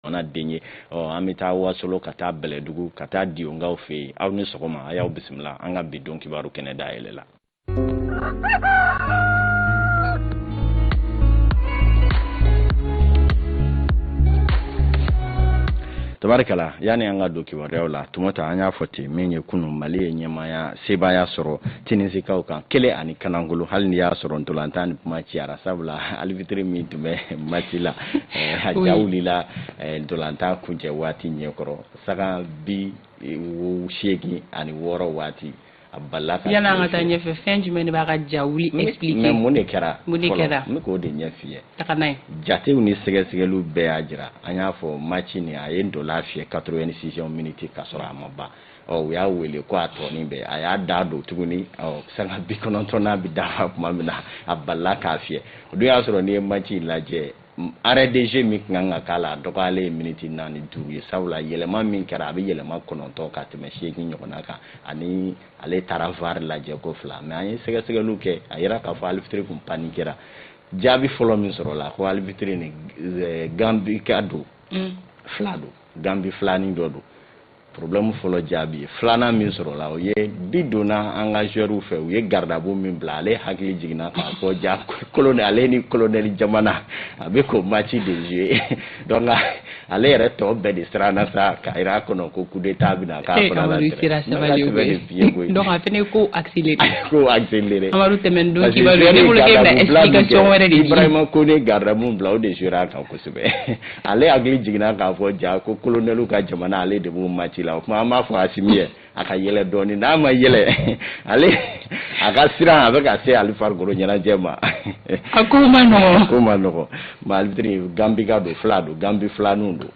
jamana den ye an bɛ taa wasolo ka taa bɛlɛdugu ka taa diyonkaw fɛ yen aw ni sɔgɔma a y'aw bisimila an ka bi don kibaru kɛnɛ dayɛlɛ la tabarikala yanni an ka don kibaruyaw la tumata an y'a fɔ ten min ye kunun mali ye ɲɛmaya sebaaya sɔrɔ Tinisikaw kan kelen ani kanangolo hali ni y'a sɔrɔ ntolatan nin kuma ciyara sabula alifitiri min tun bɛ maci la a ja wulila ntolatan kuncɛ waati ɲɛkɔrɔ sanga bi seegin ani wɔɔrɔ waati a bala ka taa ɲɛfɛ fɛn jumɛn de b'a ka ja wuli mun de kɛra n bɛ k'o de ɲɛf'i ye jatew ni sɛgɛsɛgɛli bɛɛ y'a jira an y'a fɔ maci nin a ye ntola fiyɛ quatre-vingt-sixième miniti ka sɔrɔ a ma ban ɔ u y'a wele ko a tɔ nin bɛɛ a y'a dadon tuguni ɔ sanga bi kɔnɔntɔn n'a bɛ dafa tuma min na a balila k'a fiyɛ o dun y'a sɔrɔ n'i ye maci in lajɛ arrêt de jeu min tun kan ka k'a la a dɔgɔyalen ye miniti naani duuru ye sabula yɛlɛma min kɛra a bɛ yɛlɛma kɔnɔntɔn ka tɛmɛ seegin ɲɔgɔnna kan ani ale taara var lajɛ ko fila mais an ye sɛgɛsɛgɛliw kɛ a yera k'a fɔ alifitiri tun paniquera jaabi fɔlɔ min sɔrɔla ko alifitiri ni eh, gambi ka don mm. fila don gambi filanin dɔ don problème fɔlɔ jaabi ye filanan min sɔrɔla o ye bi donna an ka joueurs fɛ u ye garde-à-vous min bila ale hakili jiginna k'a fɔ ja colonel ale ni colonel jamana a bɛ k'o match de jouer donc ale yɛrɛ tɔ bɛɛ de siranna sa k'a jira a kɔnɔ ko coup d'état bɛna k'a fana la tɛrɛ donc a fana ko accéléré ko accéléré Amadu tɛmɛn don kibaru ne bolo k'e bɛna explication wɛrɛ de di Ibrahima Kone garde-à-vous bila o de jouera a kan kosɛbɛ ale hakili jiginna k'a fɔ ja ko kolonɛlu ka jamana ale de b'o maci la o tuma an b'a fɔ asimi ye a ka yɛlɛ dɔɔni n'a ma yɛlɛ ale a ka siran a bɛ ka se hali farikoloɲɛnajɛ ma a ko man nɔgɔ ko man nɔgɔ mais alifitiri gambika don fila don gambi filaninw don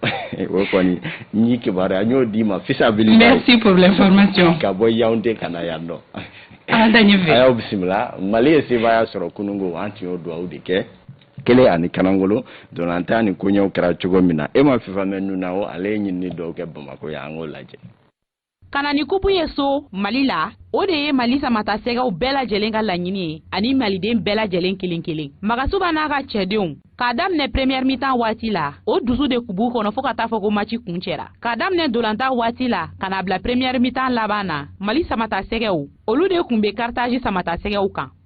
o kɔni n y'i kibaruya n y'o d'i ma fisabili merci pour l'information ka bɔ yaounde ka na yan nɔ a y'aw bisimila mali ye sebaaya sɔrɔ kunun ko an tun y'o dugawu de kɛ kelen ani kanangolo ntolatan nin koɲɛw kɛra cogo min na ema fifamɛn nunao ale ye ɲinini dɔw kɛ bamako yan an k'o lajɛ ka na ni kupu ye so mali la o de ye mali samatasɛgɛw bɛɛ lajɛlen ka laɲini ye ani maliden bɛɛ lajɛlen kelen kelen magasuba n'a ka cɛdenw k'a daminɛ premiɛr mitan waati la o dusu de kun b'u kɔnɔ fo ka taa fɔ ko maci kuncɛra k'a daminɛ ntolatan waati la ka n'a bila premiɛr mitan laban na mali samatasɛgɛw olu de kun bɛ karitazi samatasɛgɛw kan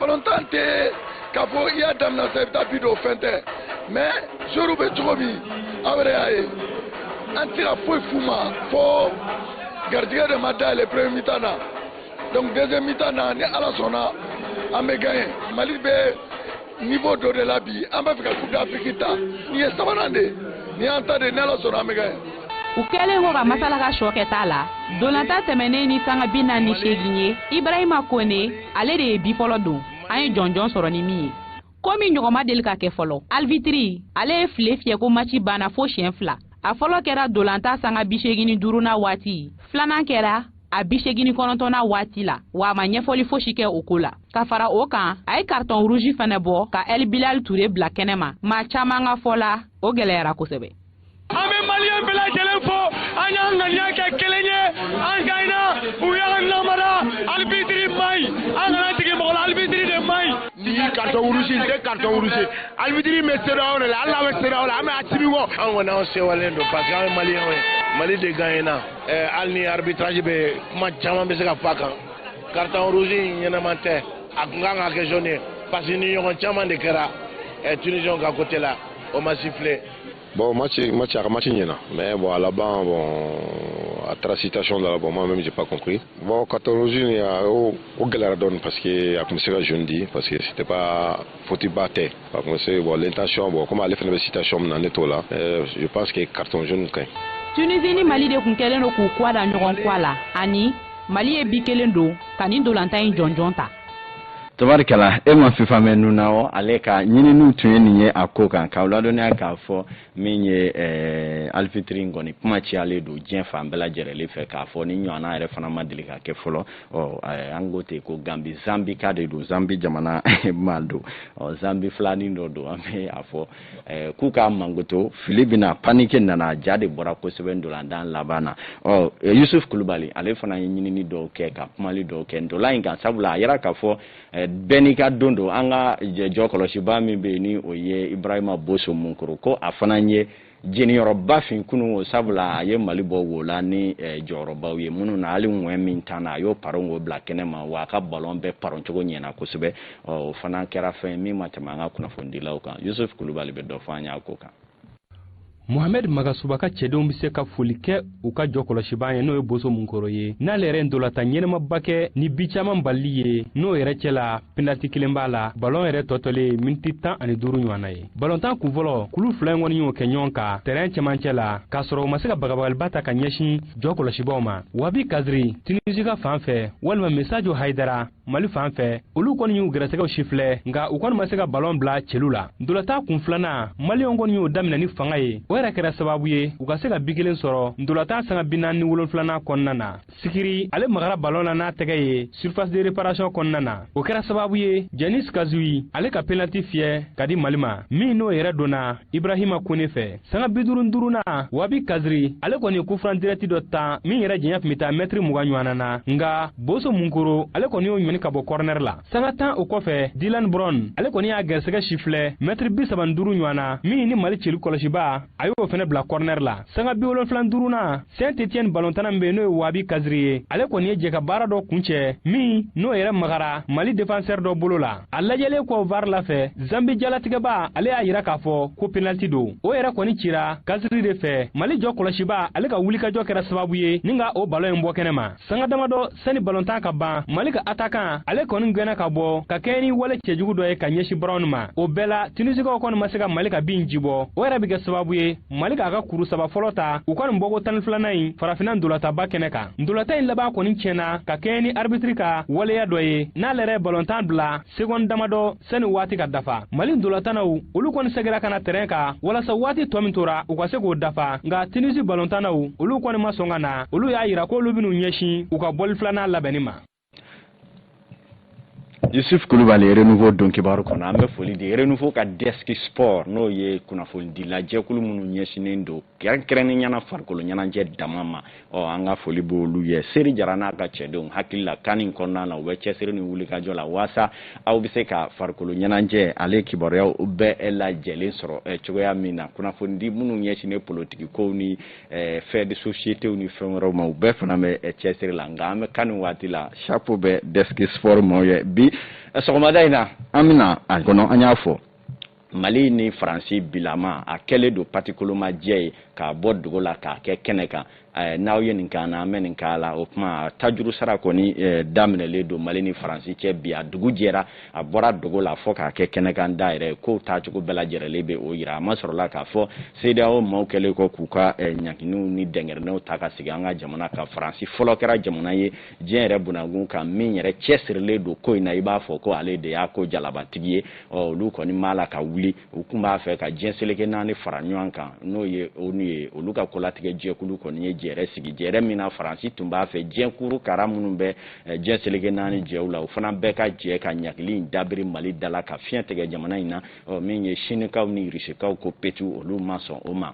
balontan tɛ k'a fɔ i y'a daminɛ sa i bɛ taa bi don o fɛn tɛ mais joueurw bɛ cogo min aw yɛrɛ y'a ye an tɛ ka foyi f'u ma fo garijɛgɛ de ma dayɛlɛ premier mi-temps na donc deuxième mi-temps na ni ala sɔnna an bɛ gagner mali bɛ niveau dɔ de la bi an b'a fɛ ka coupe d'afrique ta nin ye sabanan de ye nin y'an ta de ye ni ala sɔnna an bɛ gagner u kɛlen kɔ ka masala ka sɔ kɛta la ntolatan tɛmɛnen ni sanga bi naani ni seegin ye ibrahima kone ale de ye bi fɔlɔ don an ye jɔnjɔn sɔrɔ ni min ye ko min ɲɔgɔn ma deli ka kɛ fɔlɔ alibitiri ale ye file fiyɛ ko maci banna fo siɲɛ fila a fɔlɔ kɛra ntolatan sanga bi seegin ni duurunan waati filanan kɛra a bi seegin ni kɔnɔntɔnnan waati la wa a ma ɲɛfɔli fosi kɛ o ko la ka fara o kan a ye karitɔn ruzi fana bɔ ka ɛl bilal ture bila kɛnɛ ma maa caman ka fɔ la o gɛlɛyara kosɛbɛ an bɛ maliyɛn bɛɛ lajɛlen fo an y'an ŋaniya kɛ kelen ye an gaɲɛna u y'an namara alibitiri man ɲi an kana jigin mɔgɔ la alibitiri de man ɲi. nin karitɔn ruzi in tɛ karitɔn ruzi alibitiri bɛ cedeao de la hali n'a bɛ cedeao la an bɛ asimi kɔ. an kɔni an sewalen don parce que an ye maliyɛnw ye mali de gaɲɛna eh, hali ni arbitrage bɛ kuma caman bɛ se ka fɔ a kan karitɔn ruzi in ɲɛnama tɛ a tun kan ka kɛ jaune ye parce que nin ɲɔgɔn caman de kɛra eh, tunisiɛnw ka côté la o ma sifile. Bon, match, match, match, mais bon, à la banque, bon, à travers citation de la banque, moi-même, j'ai pas compris. Bon, quand on rejoint, il y a au Galardon, parce que, à comme c'est je dis, parce que c'était pas foutu batté. Par contre, c'est bon, l'intention, bon, comment aller faire une citation dans les là, euh, je pense que carton jaune, quand Tunisie ni Mali de kun kɛlen don k'u kɔ da ɲɔgɔn kɔ la ani Mali ye bi kelen don ka nin dolantan in jɔnjɔn ta tabarikala e ma fifa mɛn nun na o ale ka ɲininiw tun ye nin ye a ko kan k'aw ladɔnniya k'a fɔ min ye eh, alibitiri in kɔni kuma cayalen don diɲɛ fan bɛɛ lajɛrɛlen fɛ k'a fɔ nin ɲɔgɔnna yɛrɛ fana ma deli ka kɛ fɔlɔ ɔ eh, an ko ten ko gambi zambika de don zambi jamana maa don ɔ zambi filanin dɔ don an bɛ a fɔ Eh, k'u k'a mangoto fili bɛna panike nana ja de bɔra kosɛbɛ ntolatan laban na ɔ eh, yusuf kulubali ale fana ye ɲinini dɔw kɛ ka kumali dɔw kɛ ntola in kan sabula a yɛrɛ k'a fɔ eh, bɛɛ n'i ka don don an ka jɔkɔlɔsibaa min bɛ yen ni o ye ibrahima boso munkoro ko a fana ye jeniyɔrɔba fin kunun o sabula a ye mali bɔ wo la ni jɔyɔrɔbaw ye minnu na hali ŋɛn min tanna a y'o paron k'o bila kɛnɛ ma wa a ka balɔn bɛɛ paron cogo ɲɛna kosɛbɛ o fana kɛra fɛn min ma tɛmɛ an ka kunnafonidilaw kan yusuf kulubali bɛ dɔ fɔ an y'a ko kan mohamed magasuba ka cɛdenw bɛ se ka foli kɛ u ka jɔkɔlɔsibaa ye n'o ye boso munkoro ye n'ale yɛrɛ ntolatan ɲɛnamaba kɛ ni bi caman balili ye n'o yɛrɛ cɛ la penaliti kelen b'a la balɔn yɛrɛ tɔtɔlen miniti tan ani duuru ɲɔgɔn na ye balɔntan kunfɔlɔ kulu fila in kɔni y'o kɛ ɲɔgɔn kan tɛrɛn cɛmancɛ la k'a sɔrɔ u ma se ka bagabagaliba ta ka ɲɛsin jɔkɔlɔsibaaw ma wabi kaziri tunisi ka fan fɛ walima masajo hayidara mali fan fɛ olu kɔni y'u garisɛgɛw sifilɛ nka u kɔni ma se ka balɔn bila celu la ntolatan kunfilanan maliyɛnw kɔni y'o daminɛ ni fanga ye o yɛrɛ kɛra sababu ye u ka se ka bi kelen sɔrɔ ntolatan sanga bi naani ni wolonfilanan kɔnɔna na sikiri ale magara balɔn na n'a tɛgɛ ye surface de réparation kɔnɔna na o kɛra sababu ye jani sikazuwe ale ka penaliti fiyɛ ka di mali ma min n'o yɛrɛ donna ibrahima kone fɛ sanga bi duuru duurunan wabi kaziri ale kɔni kufuran dirɛti dɔ tan min yɛrɛ janya tun bɛ taa mɛtiri mugan ɲɔgɔnna na nka boso munkoro ale kɔni y'o ɲɔni ka bɔ kɔrɔnɛri la sanga tan o kɔfɛ dilan brɔn ale kɔni y'a gɛrisɛgɛ sifilɛ mɛtiri bi saban duuru ɲɔgɔnna min ni mali celu kɔlɔsiba a y'o fana bila kɔrɔnɛri la sanga bi wolonfilan duurunan saint etienne balontanna min bɛ n'o ye wabi kaziri ye ale kɔni ye jɛkabaara dɔ kuncɛ min n'o yɛrɛ magara mali defansɛri dɔ bolo la a lajɛlen kɔ var la fɛ zambi jalatigɛba ale y'a yira k'a fɔ ko penaliti don o yɛrɛ kɔni cira kaziri de fɛ mali jɔ kɔlɔsiba ale ka wulikajɔ kɛra sababu ye ni ka o balon in bɔ kɛnɛ ma sanga damadɔ sani balontan ka ban mali ka atakan ale kɔni gwɛnna ka bɔ ka kɛɲɛ ni wale cɛjugu dɔ ye ka ɲɛsi brɔn ma o bɛɛ la tunisikaw kɔni ma se ka mali ka bi in ji bɔ o yɛrɛ bɛ kɛ sababu ye mali k'a ka kuru saba fɔlɔ ta u ka nin bɔko tan filanan in farafinna ntolatanba kɛnɛ kan ntolatan in laban kɔni tiɲɛna ka kɛɲɛ ni aribitiri ka waleya dɔ ye n'ale yɛrɛ balontan bila segɔn damadɔ sani waati ka dafa mali ntolatannaw olu kɔni segira ka na tɛrɛn kan walasa waati tɔ min tora u ka se k'o dafa nka tunisi balontannaw olu kɔni ma sɔn ka na olu y'a yira k'olu bɛn'u ɲɛsin u ka bɔli filanan labɛnni ma yusuf kulubali renouveau don kibaru kɔnɔ an bɛ foli di renouveau ka deski sport n'o ye kunnafonidilajɛkulu minnu ɲɛsinnen don kɛrɛnkɛrɛnnenya na farikolo ɲɛnajɛ dama ma ɔ an ka foli b'olu ye seri jara n'a ka cɛdenw hakili la kani kɔnɔna na u bɛ cɛsiri ni wulikajɔ la waasa aw bɛ se ka farikolo ɲɛnajɛ ale kibaruyaw bɛɛ lajɛlen sɔrɔ eh, cogoya min na kunnafonidi minnu ɲɛsinnen politiki kow ni eh, faits de société ni fɛn wɛrɛw ma u bɛɛ fana bɛ eh, cɛsiri la nka an bɛ kani waati la chapeau bɛ deski sport maaw ye bi sɔgɔmada in na an bɛ na a kɔnɔ an y'a fɔ mali ni faransi bilama a kɛlen don patikolomajɛ ye k'a bɔ dogo la k'a kɛ kɛnɛ kan eh, n'aw ye nin k'an na an bɛ nin k'aw la o tuma tajuru sara kɔni eh, daminɛlen don mali ni faransi cɛ bi a dugu jɛra a bɔra dogo la fɔ k'a kɛ kɛnɛ kan da yɛrɛ kow taacogo bɛɛ lajɛrɛlen bɛ o yira a masɔrɔla k'a fɔ sedeyawo maaw kɛlen kɔ k'u ka eh, ɲanginiw ni dɛngɛrɛnɛw ta ka sigi an ka jamana kan faransi fɔlɔ kɛra jamana ye diɲɛ yɛrɛ bunakun kan min yɛrɛ cɛsirilen don ko in na i b'a fɔ ko ale de y'a ko jalabatigi ye olu kɔni ma la ka wuli u tun b'a fɛ ka diɲɛ seleke naani fara ɲɔgɔn kan n'o ye onu ye olu ka kolatigɛ jɛkulu kɔni ye jɛrɛ sigi jɛrɛ min na faransi tun b'a fɛ diɲɛkuru kara minnu bɛ eh, diɲɛ seleke naani jɛw la o fana bɛɛ ka jɛ ka ɲagili in dabiri mali da la ka fiɲɛ tigɛ jamana in na min ye sinikaw ni rusikaw ko petu olu ma sɔn o ma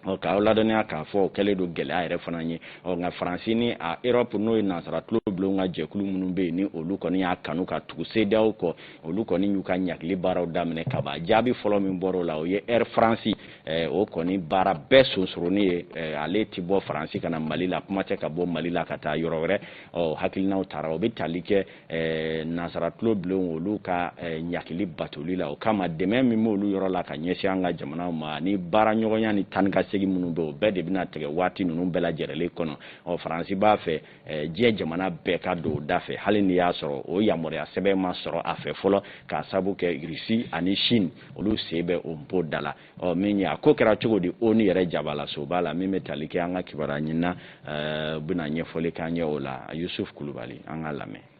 ɔ k'aw ladɔnniya k'a fɔ o kɛlen don gɛlɛya yɛrɛ fana ye ɔ nka faransi ni a erɔpu n'o ye nansara tulo bulon ka jɛkulu minnu bɛ yen ni olu kɔni y'a kanu ka tugu sedeyawo kɔ olu kɔni y'u ka ɲagili baaraw daminɛ ka ban jaabi fɔlɔ min bɔra o la o ye ɛri faransi eh, o kɔni baara bɛɛ sonsoronin ye eh, ale ti bɔ faransi ka na mali la kuma tɛ ka bɔ mali la ka taa yɔrɔ wɛrɛ ɔ hakilinaw tara o bɛ tali kɛ eh, nansara tulo bilenw olu ka eh, ɲangili batoli la o kama dɛmɛ min b'olu yɔrɔ la ka ɲɛsin an ka jamanaw ma ni baara ɲɔgɔnya ni taa ni ka segin minnu bɛ o bɛɛ de bɛna tigɛ waati ninnu bɛɛ lajɛrɛlen kɔnɔ ɔ faransi b'a fɛ eh, diɲɛ jamana bɛɛ ka don o da fɛ hali ni y'a sɔrɔ o yamaruya sɛbɛn ma sɔrɔ a fɛ fɔlɔ k'a sabu kɛ irisi ani chine olu sen bɛ o bɔ da la ɔ min ye a ko kɛra cogo di onu yɛrɛ jabalasoba la min bɛ tali kɛ an ka kibaruya ɲinina eh, bɛna ɲɛfɔli k'an ye o la yusuf kulubali an ka lamɛn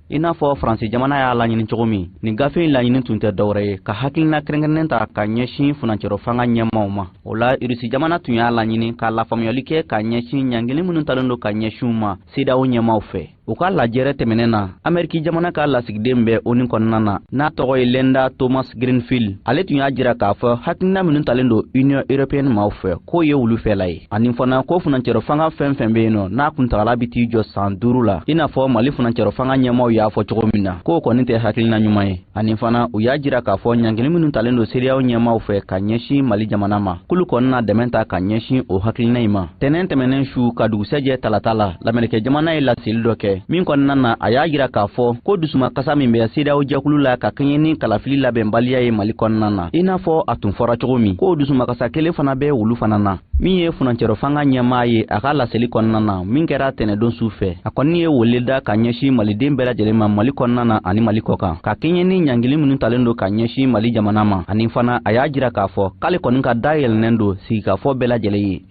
i n'a fɔ faransi jamana y'a laɲini cogo min nin gafe in laɲini tun tɛ dɔwɛrɛ ye ka hakilina kɛrɛnkɛrɛnnen ta ka ɲɛsin furancɛrɔ fanga ɲɛmaaw ma o la irisi jamana tun y'a laɲini ka lafaamuyali kɛ ka ɲɛsin ɲangili minnu talen don ka ɲɛsin u ma cedeao ɲɛmaaw fɛ u ka lajɛrɛ tɛmɛnen na ameriki jamana ka lasigiden bɛ onu kɔnɔna na n'a tɔgɔ ye linda thomas greenfield ale tun y'a jira k'a fɔ hakilina minnu talen don union européenne maaw fɛ k'o ye olu fɛla ye ani fana ko furancɛrɔ fanga fɛn fɛn bɛ yen nɔ n'a kuntagala bɛ t'i jɔ san duuru la i n'a fɔ mali furancɛrɔ fanga ɲɛmaaw y'a fɔ cogo min na k'o kɔni tɛ hakilina ɲuman ye ani fana u y'a jira k'a fɔ ɲangili minnu talen don cedeao ɲɛmaaw fɛ ka ɲɛsin mali jamana ma k'olu kɔni na dɛmɛ ta ka ɲɛsin o hakilina in ma tɛnɛn tɛmɛnen su ka dugusɛjɛ talata la lamerikɛn jamana ye laseli dɔ kɛ min kɔnɔna na a y'a jira k'a fɔ ko dusumakasa min bɛ cedeao jɛkulu la ka kɛɲɛ ni kalafili labɛnbaliya ye mali kɔnɔna na i n'a fɔ a tun fɔra cogo min k'o dusumakasa kelen fana bɛ olu fana na min ye furancɛrɔ fanga ɲɛmaa ye a ka laseli kɔnɔna na min kɛra tɛnɛdon su fɛ a kɔni ye wele da ka ɲɛsin maliden bɛɛ lajɛlen ma mali kɔnɔna na ani mali kɔkan ka kɛɲɛ ni ɲangili minnu talen don ka ɲɛsin mali jamana ma ani fana a y'a jira k'a fɔ k'ale kɔni ka da yɛlɛnnen don sigikafɔ bɛɛ lajɛlen ye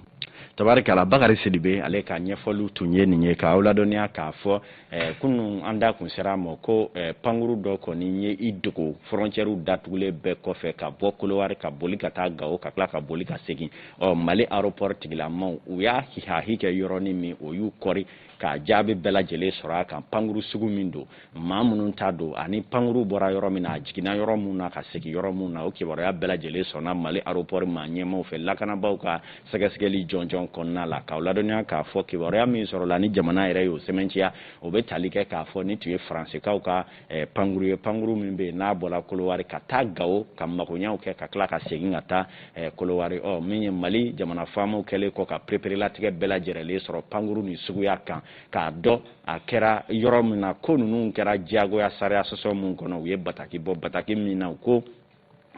tabarikala bakari sidibe ale ka ɲɛfɔliw tun ye nin ye k'aw ladɔnniya k'a fɔ Eh, kunun an da kun sera a ma ko eh, pankuru dɔ kɔni ye i dogo fɔrɔncɛriw datugulen bɛɛ kɔfɛ ka bɔ kolowari ka boli ka taa gawo ka tila ka boli ka segin ɔ mali aropɔri tigilamaw u y'a hihahi kɛ yɔrɔnin min o y'u kɔri ka jaabi bɛɛ lajɛlen sɔrɔ a kan pankuru sugu min don maa minnu ta don ani pankuru bɔra yɔrɔ min na a jiginna yɔrɔ min na ka segin yɔrɔ min na o kibaruya bɛɛ lajɛlen sɔrɔla mali aropɔri maa ɲɛmaaw fɛ lakanabaaw ka sɛgɛsɛgɛli jɔnjɔn kɔnɔna la k'aw ladɔnniya k'a fɔ kibaruya min sɔrɔla ni jamana yɛrɛ y'o sɛmɛnciya o bɛ tali kɛ k'a fɔ nin tun ye faransikaw ka eh, pankuru ye pankuru min bɛ yen n'a bɔra kolowari ka taa gawo ka magoɲaw kɛ ka tila ka segin ka taa eh, kolowari ɔ min ye mali jamana faamaw kɛlen kɔ ka pereperelatigɛ bɛɛ lajɛrɛlen sɔrɔ pankuru nin suguya kan k'a dɔn a kɛra yɔrɔ min na ko ninnu kɛra diyagoya sariya sɔsɔ min kɔnɔ u ye bataki bɔ bataki min na u ko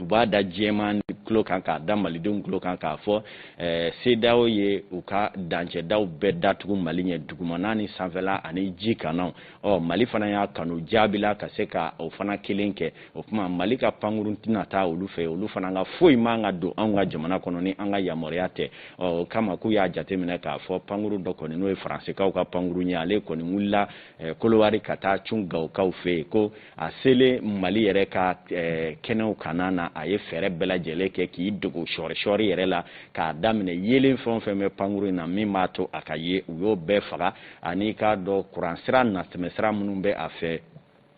u b'a da diɲɛmaa tulo kan k'a da malidenw tulo kan k'a fɔ eh, cedeao ye u ka dancɛdaw bɛɛ datugu mali ɲɛ dugumana ni sanfɛla ani ji kannaw ɔ mali fana y'a kanu jaabi la ka se ka o fana kelen kɛ o tuma mali ka pankurun tɛna taa olu fɛ olu fana ka foyi man ka don anw ka jamana kɔnɔ ni an ka yamaruya tɛ ɔ o kama k'u y'a jateminɛ k'a fɔ pankuru dɔ kɔni n'o ye faransikaw ka pankuru ye ale kɔni wulila eh, kolowari ka taa cun gawokaw fɛ yen ko a selen mali yɛrɛ ka eh, kɛnɛw kanna na a ye fɛɛrɛ bɛɛ lajɛlen kɛ k'i dogo sɔɔrisɔɔri yɛrɛ la k'a daminɛ yeelen fɛn o fɛn bɛ pankuru in na min b'a to a ka ye u y'o bɛɛ faga ani k'a dɔn kuransira natɛmɛsira minnu bɛ a fɛ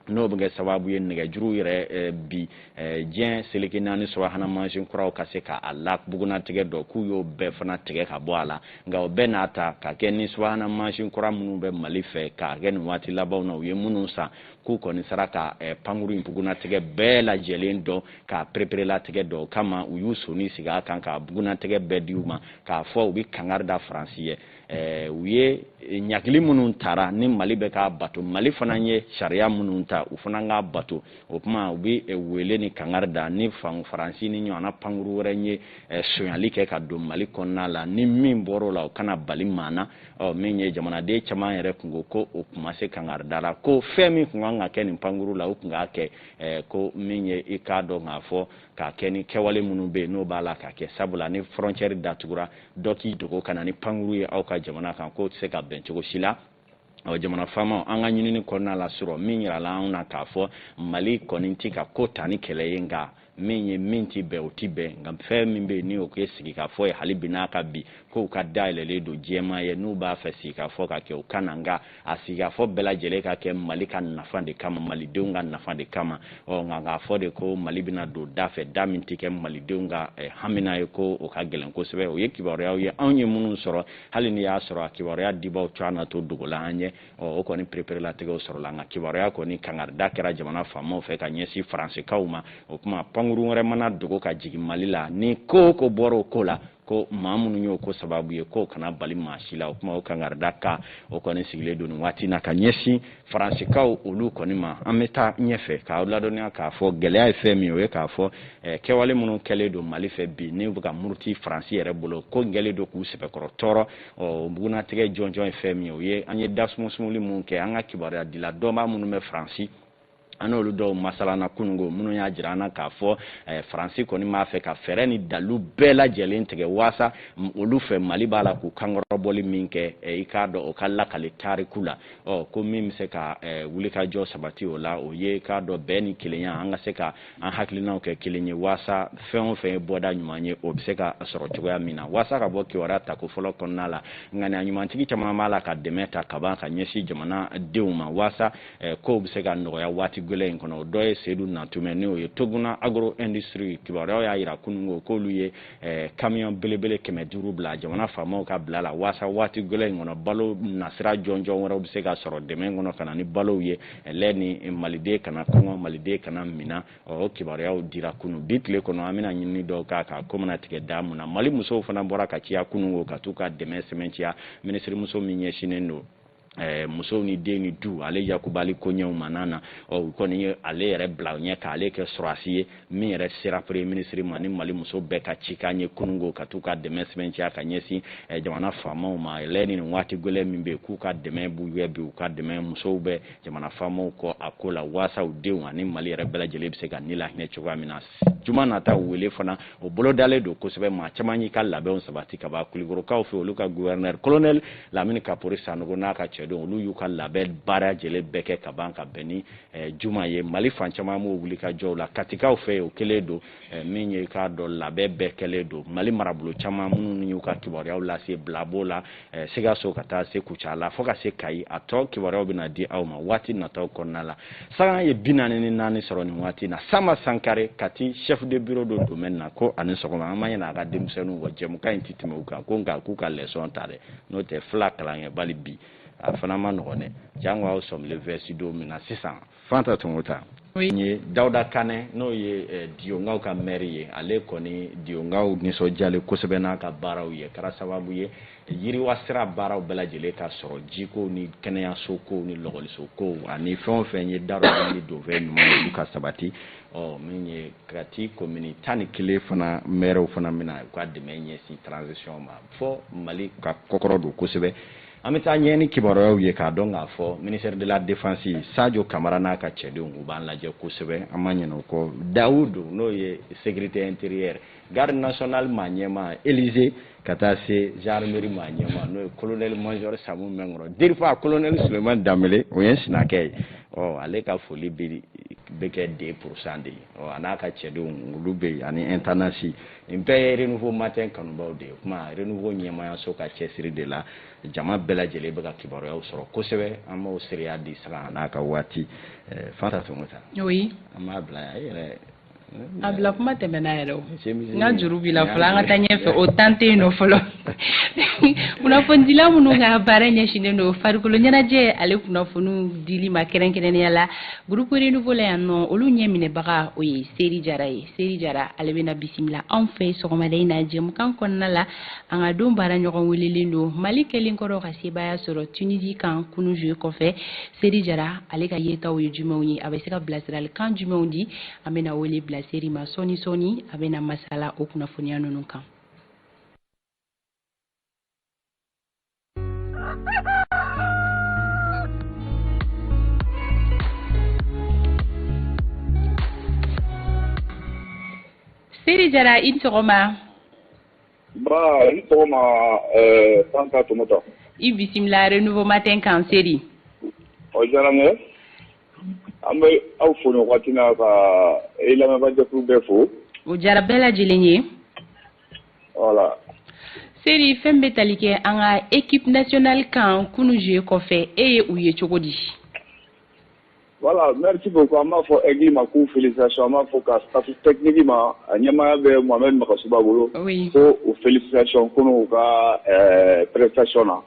n'o bɛ kɛ sababu ye nɛgɛjuru yɛrɛ eh, bi eh, diɲɛ seleke naani subahana mansin kuraw ka se ka a la bugunnatigɛ dɔn k'u y'o bɛɛ fana tigɛ ka bɔ a la nka o bɛɛ n'a ta ka kɛ ni subahana mansin kura minnu bɛ mali fɛ k'a kɛ nin waati labanw na u ye minnu san k'u kɔni sera ka eh, pankuru in bugunnatigɛ bɛɛ lajɛlen dɔn k'a pereperelatigɛ dɔn o kama u y'u soni sigi a kan k'a bugunnatigɛ bɛɛ di u ma k'a fɔ u bɛ kangari da faransi ye eh, u ye eh, ɲagili minnu tara ni mali bɛ k'a bato mali fana ye sariya minnu ta u fana k'a bato o kuma u bɛ wele ni kangari da ni faransi nin ɲɔgɔnna pankuru wɛrɛ ye eh, sonyali kɛ ka don mali kɔnɔna la ni min bɔr'o la o kana bali maa na ɔ min ye jamanaden caman yɛrɛ kunko ko o kun ma se kangarida la ko fɛn min kun kan ka kɛ nin pankuru la o kun k'a kɛ eh, ko min ye i k'a dɔn k'a fɔ k'a kɛ ni kɛwale minnu bɛ yen n'o b'a la k'a kɛ sabula ni fɔrɔncɛri datugura dɔ k'i dogo ka na ni pankuru ye aw ka jamana kan k'o tɛ se ka bɛn cogo si la ɔ jamana faamaw an ka ɲinini kɔnɔna la sɔrɔ min yirala anw na k'a fɔ mali kɔni tɛ ka ko ta ni kɛlɛ ye nka min ye min tɛ bɛn o tɛ bɛn nka fɛn min bɛ yen ni o ye sigikafɔ ye hali bi n'a ka bi k'u ka da yɛlɛlen don diɲɛmaa ye n'u b'a fɛ sigikafɔ ka kɛ u ka na nka a sigikafɔ bɛɛ lajɛlen ka kɛ mali ka nafa de kama malidenw ka nafa de kama ɔ nka k'a fɔ de ko mali bɛna don da fɛ da min tɛ kɛ malidenw ka eh, hamina ye ko o ka gɛlɛn kosɛbɛ o ye kibaruyaw ye anw ye minnu sɔrɔ hali ni y'a sɔrɔ a kibaruya dibaw co an'a tɔɔ dogola an ɲɛ o kɔni pereperelatigɛw sɔrɔla nka kibaruya kɔni kangarida kɛra jamana faamaw fɛ ka ɲɛsin faransikaw ma o kuma pankuru wɛrɛ mana dogo ka jigin mali la ni ko ko bɔra o ko la ko maa minnu y'o ko sababu ye k'o kana bali maa si la o kuma o kangarida kan o kɔni sigilen don nin waati na ka ɲɛsin faransikaw olu kɔni ma an bɛ taa ɲɛfɛ k'aw ladɔnniya k'a fɔ gɛlɛya ye fɛn min ye o ye k'a fɔ eh, kɛwale minnu kɛlen don mali fɛ bi ni bɛ ka muruti faransi yɛrɛ bolo k'o kɛlen don k'u sɛbɛkɔrɔ tɔɔrɔ ɔ bugunnatigɛ jɔnjɔn ye fɛn min ye o ye an ye dasumusumuli minnu kɛ an ka kibaruya dila dɔnbaa minnu bɛ faransi an n'olu dɔw masalana kunungo minnu y'a jira an na k'a fɔ eh, faransi kɔni b'a fɛ ka fɛɛrɛ ni dalu bɛɛ lajɛlen tigɛ waasa olu fɛ mali b'a la k'u kankɔrɔbɔli min kɛ eh, i k'a dɔn o ka lakali tariku la ɔ ko min bɛ se ka eh, wulikajɔ sabati o la o ye k'a dɔn bɛn ni kelenya an ka se ka an hakilinaw kɛ kelen ye waasa fɛn o fɛn ye bɔda ɲuman ye o bɛ se ka sɔrɔ cogoya min na waasa ka bɔ kibaruya tako fɔlɔ kɔnɔna la ŋaniya ɲumantigi caman b'a la ka dɛmɛ ta kaban ka ɲɛsin jamana denw ma waasa eh, kow bɛ se ka nɔgɔya waati gɛlɛn in kɔnɔ o dɔ ye sedu nantumɛ n'o ye toguna agro industrie kibaruyaw y'a yira kununko k'olu ye eh, kamiyɔn belebele kɛmɛ duuru bila jamana faamaw ka bila la waasa waati gɛlɛn in kɔnɔ balo nasira jɔnjɔn wɛrɛw bɛ se ka sɔrɔ dɛmɛ kɔnɔ ka na ni balow ye laɲini maliden kana kɔngɔ maliden kana mina o kibaruyaw dira kunun bi tile kɔnɔ an bɛna ɲinini dɔw k'a kan ko mana tigɛ da mun na mali musow fana bɔra ka ciya kunungo ka t'u ka dɛmɛ sɛmɛnciya minisirimuso min ɲɛsinnen don Eh, musow ni den ni du ale yakubali koɲɛw ma n'a na u kɔni ye ale yɛrɛ bila ɲɛ ka ale kɛ sɔrɔdasi ye min yɛrɛ sera premier minisiri ma ni mali muso bɛɛ ka cikan ye kunungo ka t'u ka dɛmɛ sɛmɛnciya ka ɲɛsin eh, jamana faamaw ma laɲini nin waati gwɛlɛ min bɛ k'u ka dɛmɛ b'u yɛ bi u ka dɛmɛ musow bɛ jamana faamaw kɔ a ko la waasa u denw ani mali yɛrɛ bɛɛ lajɛlen bɛ se ka ni lahinɛ cogoya min na juma nata wele fana o bolo dalen don kosɛbɛ maa caman y'i ka labɛnw sabati ka ban kulikɔrɔkaw fɛ olu ka guvɛrinɛri kolonɛli lamini kapori sanogo n'a ka cɛdenw olu y'u ka labɛn baara lajɛlen bɛɛ kɛ ka ban ka bɛn ni eh, juma ye mali fan caman b'o wulikajɔw la katikaw fɛ o kelen don eh, min ye k'a dɔn labɛn bɛɛ kɛlen don mali marabolo caman minnu y'u ka kibaruyaw lase bila b'o la eh, sikaso ka taa se kucala fɔɔ ka se kayi a tɔ kibaruyaw bɛna di aw ma waati nataw kɔnɔna la sanga ye bi naani ni naani sɔrɔ nin waati na sama sankare kati chef de bureau du domaine na ko a' ni sɔgɔma an ma ɲina an ka denmisɛnninw kɔ jɛmukan in ti tɛmɛ u kan ko nka k'u ka lɛsɔn ta dɛ n'o tɛ fila kalankɛbali bi a fana man nɔgɔn dɛ jango aw sɔmile vɛsi don min na sisan fanta tomota ni dawuda kanɛ n'o ye eh, diyonkaw ka mɛri ye ale kɔni diyonkaw nisɔndiyalen kosɛbɛ n'a ka baaraw ye kɛra sababu ye yiriwa sira baaraw bɛɛ lajɛlen ka sɔrɔ jikow ni kɛnɛyaso kow ni lakɔliso kow ani fɛn o fɛn ye dadɔ ni donfɛn ɲuman olu ka sabati ɔ min ye kati komini tan ni kelen fana mɛriw fana bɛna u ka dɛmɛ ɲɛsin transition ma fɔ mali ka kɔkɔrɔdon kosɛbɛ An bɛ taa ɲɛ ni kibaruyaw ye k'a dɔn k'a fɔ ministère de la défense sajo kamara n'a ka cɛdenw u b'an lajɛ kosɛbɛ an ma ɲin'o kɔ dawudu n'o ye sécurité intérieure garde nationale maa ɲɛma elize ka taa se gendarmerie maa ɲɛma n'o ye kolonɛli majɔri sanbu minkɔrɔ dirpa kolonɛli suleyimani danbɛlɛ o ye sinakɛ ye ɔ ale ka foli bɛ kɛ deux pour cent de ye ɔ n'a ka cɛdenw olu bɛ ani intendance nin bɛɛ ye renouveau matin kanubaw de ye kuma renouveau ɲɛmayaso ka cɛsiri de la jama bɛɛ lajɛlen bɛ ka kibaruyaw sɔrɔ kosɛbɛ an b'o seereya di sanga n'a ka waati eh, fanta tomota oui an b'a bila yan e yɛrɛ eh, a bila kuma tɛmɛna yɛrɛ o n ka juru b'i la fɔlɔ an ka taa ɲɛfɛ o tan tɛ yen nɔ fɔlɔ kunnafonidila minnu ka baara ɲɛsinnen don farikolo ɲɛnajɛ ale kunnafoniw dili ma kɛrɛnkɛrɛnnenya la gurupu renouveau la yan nɔ olu ɲɛminɛbaga o ye seri jara ye seri jara ale bɛna bisimila anw fɛ sɔgɔmada in na jɛmukan kɔnɔna la an ka don baara ɲɔgɔn welelen don mali kɛlen kɔrɔ ka sebaaya sɔrɔ tunisi kan kunu jeu kɔfɛ seri jara ale ka yetaw ye jumɛnw ye a bɛ se ka bilasiralikan jumɛnw di an bɛna wele bila seri ma sɔɔni sɔɔni a bɛna masala o kunnafoniya ninnu kan Siri jara i sɔgɔma i bisimilare n ma tɛ kan seri an bɛ aw fo ka e lamɛnjɛkulu bɛ fo o jara bɛɛ lajɛlen ye seri fɛn bɛ tali kɛ an ka ekip natinali kan kunun ze kɔfɛ e ye u ye cogo di wala mriti ko ko an b'a fɔ eki ma k'u fili sa an b'a fɔ ka tɛkinki ma a ɲɛmaaya bɛ mama mɔgɔsiba bolo ko u fili ficɔn kunun u ka pɛretacyɔn na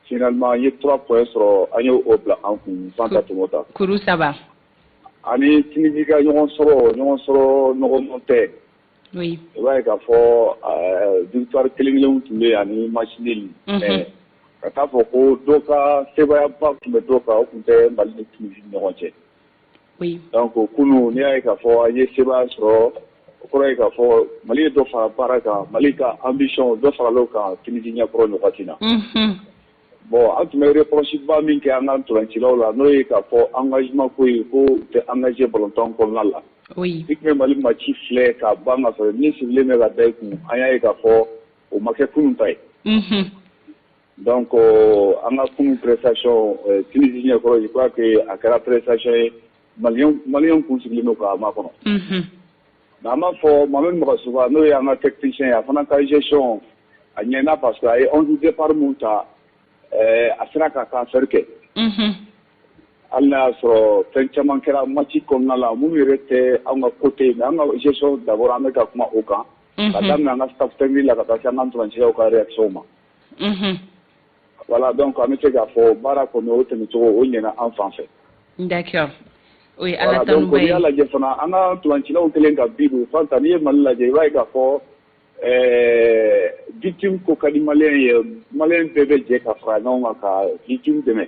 sinalilima an ye tura kɔ sɔrɔ an y'o o bila an kun san ka tɛmɛ ta kuru saba ani tji ka ɲɔgɔn sɔrɔ ɲɔgɔn sɔrɔ nɔgɔma tɛ i b'a ye k'a fɔ victoire kelen kelen tun bɛ yan ni match nul mais ka t'a fɔ ko dɔ ka sebaayaba tun bɛ dɔ kan o tun tɛ mali ni tunisi ni ɲɔgɔn cɛ donc kunun n'i y'a ye k'a fɔ an ye sebaaya sɔrɔ o kɔrɔ ye k'a fɔ mali ye dɔ fara baara kan mali ka ambition dɔ farala o kan tunisi ɲɛkɔrɔ nin waati na bon an tun bɛ reproche ba min kɛ an ka ntolancilaw la n'o ye k'a fɔ engagement ko ye ko u tɛ engager balontan kɔnɔna la, oui, i tun bɛ Mali match filɛ k'a ban ka sɔrɔ min sigilen bɛ ka da i kun, an y'a ye k'a fɔ o ma kɛ kunun ta ye, unhun, donc an ka kunun prestation Tunisie ɲɛkɔrɔ je crois que a kɛra prestation ye Malien Malien tun sigilen don k'a makɔnɔ, unhun. Mais an b'a fɔ Mohamed Magasuba n'o ye an ka technicien ye a fana ka gestion a ɲɛna parce que a ye 11 départ min ta ɛɛ a sera ka transfert kɛ, unhun, hali n'a y'a sɔrɔ fɛn caman kɛra match kɔnɔna la minnu yɛrɛ tɛ anw ka côté ye mais an ka gestion d'abord an bɛ ka kuma o kan, unhun, ka daminɛ an ka staff technique la ka taa se an ka ntolancilaw ka réaction ma, unhun Wala dɔn ko an bɛ se k'a fɔ baara kɔnɔ o tɛmɛcogo o ɲ an fan fɛ n o ye ala y'a lajɛ fana an ka pcilaw kelen ka bi u fɔ ta n'i ye mali lajɛ i b'a ka fɔ biti ko ka di ma ye ma bɛɛ bɛ jɛ ka fara ɲɔgɔn kan ka bitu dɛmɛ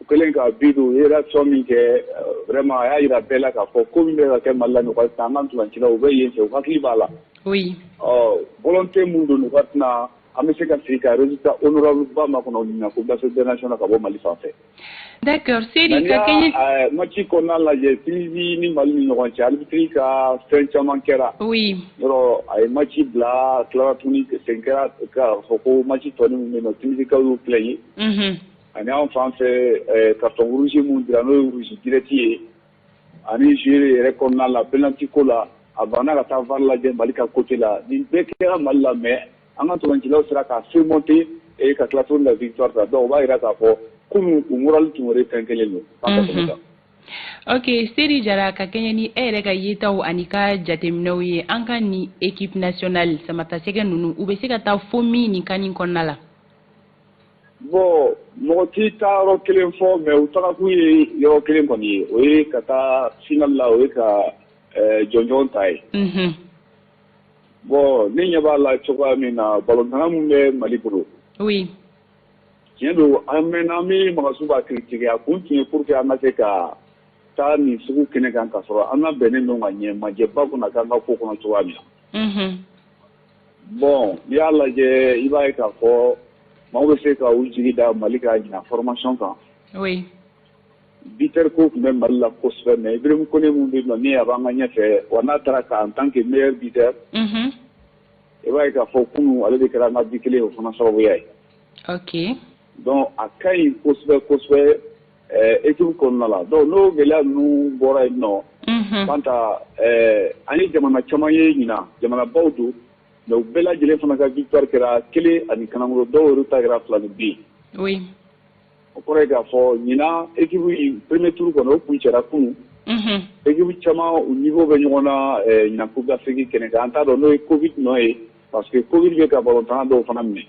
u kɛlen ka bi u ye sɔn min kɛ wɛrɛma a y'a jira bɛɛ la k'a fɔ ko min bɛ kɛ mali la an kaci u bɛ yen fɛ u hakili b'a la ɔ bɔn tɛ minnu don u ka tɛna an bɛ se ka sigi ka résultat honorable ba makɔnɔ ɲina Coupe d'Afrique des Nations ka bɔ Mali fan fɛ. D'accord Seri ka kɛɲɛ. Nka n'i y'a match kɔnɔna lajɛ Tunisie ni Mali ni ɲɔgɔn cɛ arbitre ka fɛn caman kɛra. Oui. Yɔrɔ a ye match bila a tilara tuguni segin kɛra k'a fɔ ko match tɔ nin min bɛ yen nɔ Tunisie kaw y'u plaigner. Unhun. Ani anw fan fɛ ɛɛ carton rouge min dira n'o ye rouge direct ye. ani jeu yɛrɛ kɔnɔna la penalty ko la a banna ka taa VAR lajɛ mali ka côté la nin bɛɛ kɛra mali la mais an ka ntolacilaw sera ka surmonter ee ka tila tuguni la victoire ta donc o b'a jira k'a fɔ kunun u moral tun wɛrɛ fɛn kelen don ok seri jara ka kɛɲɛ ni e yɛrɛ ka yetaw ani ka jateminɛw ye an ka ni équipe nationale samatasɛgɛ ninnu u bɛ se ka taa fo min nin CAN in kɔnɔna la Bon mɔgɔ t'i taa yɔrɔ kelen fɔ mais u tagakun ye yɔrɔ kelen kɔni ye o ye ka taa finale la o ye ka jɔnjɔn ta ye bon ne ɲɛ b'a la cogoya min na ballontanna minnu bɛ mali bolo tiɲɛ don an mɛnna an bɛ Magasuba critiquer a kun tun ye pour que an ka se ka taa nin sugu kɛnɛ kan ka sɔrɔ an labɛnnen don ka ɲɛ maa ɲɛ b'an kunna k'an ka ko kɔnɔ cogoya min na bon n'i y'a lajɛ i b'a ye k'a fɔ maaw bɛ se ka u jigi da mali ka ɲina formation kan buteur ko tun bɛ mali la kosɛbɛ mais Ibrahim Kone min bɛ yen nɔ ni a b'an ka ɲɛ fɛ wa n'a taara CAN en tant que meilleur buteur i b'a ye k'a fɔ kunun ale de kɛra an ka bi kelen o fana sababuya ye Donc a ka ɲi kosɛbɛ kosɛbɛ équipe kɔnɔna la donc n'o gɛlɛya ninnu bɔra yen nɔ Fanta an ye jamana caman ye ɲina jamanabaw don mais u bɛɛ lajɛlen fana ka victoire kɛra kelen ani kanagolo dɔw yɛrɛ ta kɛra filaninbin o kɔrɔ ye k'a fɔ ɲina équipe premier tour kɔnɔ o kuncɛra kunun équipe caman u niveau bɛ ɲɔgɔn na ɲina Coupe d'Afrique kɛnɛ kan an t'a dɔn n'o ye Covid nɔ ye parce que Covid bɛ ka ballontanna dɔw fana minɛ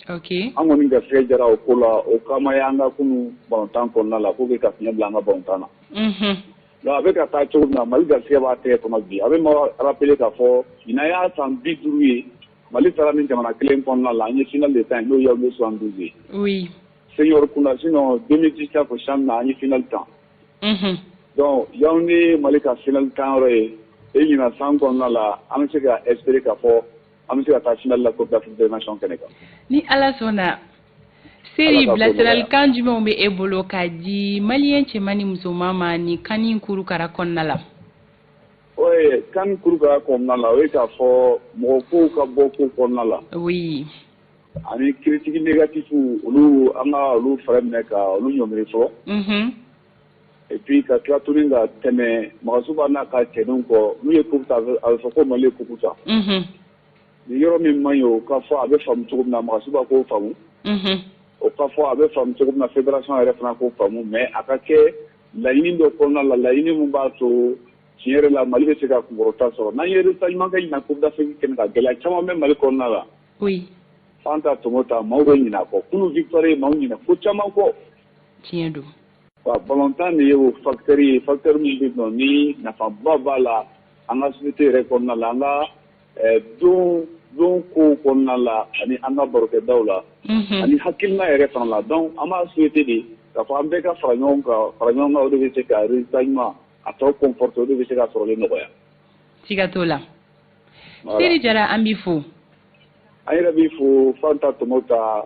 an kɔni garisɛgɛ diyara o ko la o kama an ka kunun ballontan kɔnɔna la pour que ka fiɲɛ bila an ka ballontan na donc a bɛ ka taa cogo min na mali garisɛgɛ b'a tɛgɛ kɔnɔ bi a bɛ maa rappeler k'a fɔ ɲina y'a san bi duuru ye mali taara ni jamana kelen kɔnɔna la an ye finale de tan n'o ye Yaoundé soixante-douze ye senior kunda sinon deux mille vingt ko CHAN na an ye finale tan donc Yaoundé ye mali ka finale tan yɔrɔ ye e ɲina san kɔnɔna la an bɛ se ka espérer k'a fɔ an bɛ se ka taa finale la Coupe d'Afrique des Nations kɛnɛ kan. Ni Ala sɔnna. Seri bilasiralikan jumɛnw bɛ e bolo k'a di maliyɛn cɛman ni musoman ma ni CAN in kurukara kɔnɔna la? Oui, CAN kurukara kɔnɔna la, o ye k'a fɔ mɔgɔ kow ka bɔ ko kɔnɔna la. Oui. Ani critique négatif olu an ka olu fɛɛrɛ minɛ ka olu ɲɔngiri fɔlɔ. Unhun. et puis ka tila tuguni ka tɛmɛ Magasuba n'a ka cɛdenw kɔ n'u ye coupe ta a bɛ a bɛ fɔ ko Mali ye coupe ta unhun ni yɔrɔ min man ɲi o ka fɔ a bɛ faamu cogo min na Magasuba k'o faamu unhun o ka fɔ a bɛ faamu cogo min na fédération yɛrɛ fana k'o faamu mais a ka kɛ laɲini dɔ kɔnɔna la laɲini min b'a to tiɲɛ yɛrɛ la Mali bɛ se ka kunkɔrɔta sɔrɔ n'an ye résultat ɲuman kɛ ɲinan coupe d'Afrique kɛnɛ kan gɛlɛya caman bɛ Mali kɔnɔna la oui Fanta Tomota maaw bɛ ɲinɛ a kɔ kunu victoire ye maaw ɲinɛ ko caman kɔ tiɲɛ don Wa balɔntan de ye o facteur ye facteur min bɛ dɔn ni nafaba b'a la an ka société yɛrɛ kɔnɔna la an ka don don ko kɔnɔna la ani an ka barokɛdaw la ani hakilina yɛrɛ fana la donc an b'a souhaiter de k'a fɔ an bɛɛ ka fara ɲɔgɔn kan fara ɲɔgɔn kan o de bɛ se ka résultat ɲuman a tɔw conforter o de bɛ se ka sɔrɔli nɔgɔya siga t'o la Seri Jara an b'i fo an yɛrɛ b'i fo Fanta Tomota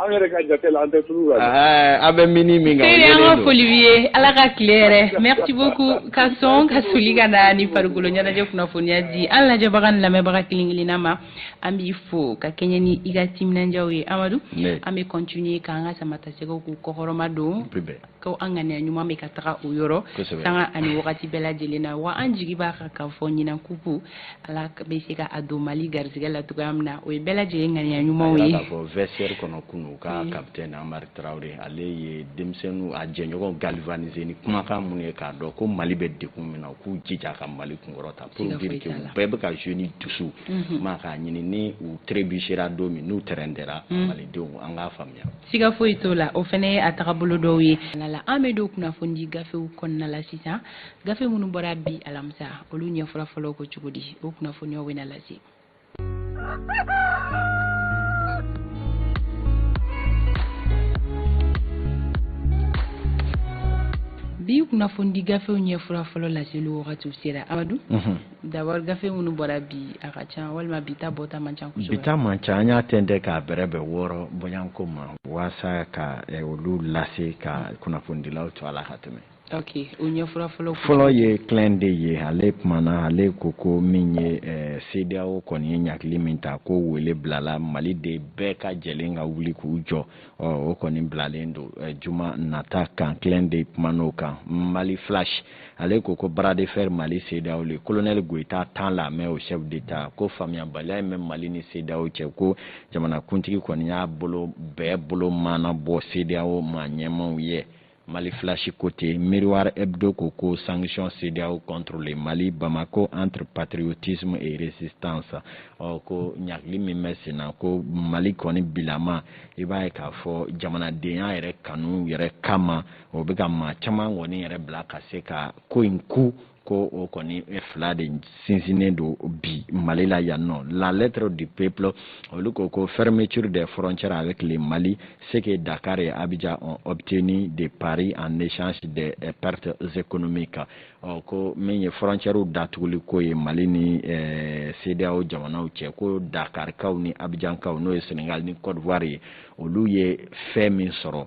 An yɛrɛ ka jate la an tɛ tulu la dɛ. Ɛɛ an bɛ mini min kan o Seri an ka foli b'i ye Ala ka tile hɛrɛ merci beaucoup ka sɔn ka soli ka na ni farikolo ɲɛnajɛ kunnafoniya di an lajɛbaga ni lamɛnbaga kelen kelenna ma an b'i fo ka kɛɲɛ ni i ka timinandiyaw ye Amadu. an bɛ continuer k'an ka samatasɛgɛw k'u kɔkɔrɔma don ko an ŋaniya ɲuman bɛ ka taga o yɔrɔ sanga ani wagati bɛɛ lajɛlen na wa an jigi b'a kan k'a fɔ ɲinan kupu ala bɛ se ka a don mali garisɛgɛ la cogoya min na o ye bɛɛ lajɛlen ŋaniya ɲumanw ye k'a fɔ vestiaire kɔnɔ kunu u ka kapitɛni amari traoré ale ye denmisɛnninw a jɛɲɔgɔn galvaniser ni kumakan minnu ye k'a dɔn ko mali bɛ degun min na u k'u jija ka mali kunkɔrɔta pour dire que u bɛɛ bɛ ka jouer ni dusu ma k'a ɲini ni u trébuchera don min n'u tɛrɛndɛra malidenw an k'a faamuya siga foyi t'o la o fana ye a tagabolo dɔw ye la an bɛ don kunnafonidi gafew kɔnɔna la sisan gafe minnu bɔra bi alamisa olu ɲɛfura fɔlɔ ko cogo di o kunnafoniyaw bɛna lase bi kunnafonidi gafew ɲɛfura fɔlɔ laseli wagatiw sera amadu D'abord gafe minnu bɔra bi a ka ca walima bi ta bɔta man ca kosɛbɛ, bi ta man ca an y'a tɛntɛn k'a bɛrɛbɛn wɔɔrɔ bɔɲɔgɔnko ma waasa ka eh, olu lase ka kunnafonidilaw to a la ka tɛmɛ ok o ɲɛfura fɔlɔ ye Clin d'œil ye ale kumana ale ko ko min ye eh, CEDEAO kɔni ye ɲagili min ta ko wele bilala maliden bɛɛ lajɛlen ka wuli k'u jɔ ɔ o kɔni bilalen don eh, juma nata kan Clin d'œil kuman'o kan mali flash ale ko ko bras de fer Mali CEDEAO le colonel Goita tend la main aux chefs d'État ko faamuyabaliya min bɛ Mali ni CEDEAO cɛ ko jamanakuntigi kɔni y'a bolo bɛɛ bolo maanabɔ CEDEAO maa ɲɛmaaw ye Mali flash ko ten Miroir Hebdo ko ko sanction CEDEAO contre le Mali Bamako entre patriotisme et résistance ɔ ko ɲagili min bɛ sen na ko Mali kɔni bilama i b'a ye k'a fɔ jamanadenya yɛrɛ kanu yɛrɛ kama o bɛ ka maa caman kɔni yɛrɛ bila ka se ka ko in ku ko o kɔni fila de sinsinnen don bi mali la yan ɔ la lettre du peuple olu ko ko fermeture des frontières avec le mali ce que dakar et abidjan ont obtenu de paris en échange des eh, pertes économiques ɔ ko min ye frontiɛrw datuguli ko ye mali ni eh, cedeao jamanaw cɛ ko dakarikaw ni abijankaw n'o ye senegal ni cote d'ivoire ye olu ye fɛn min sɔrɔ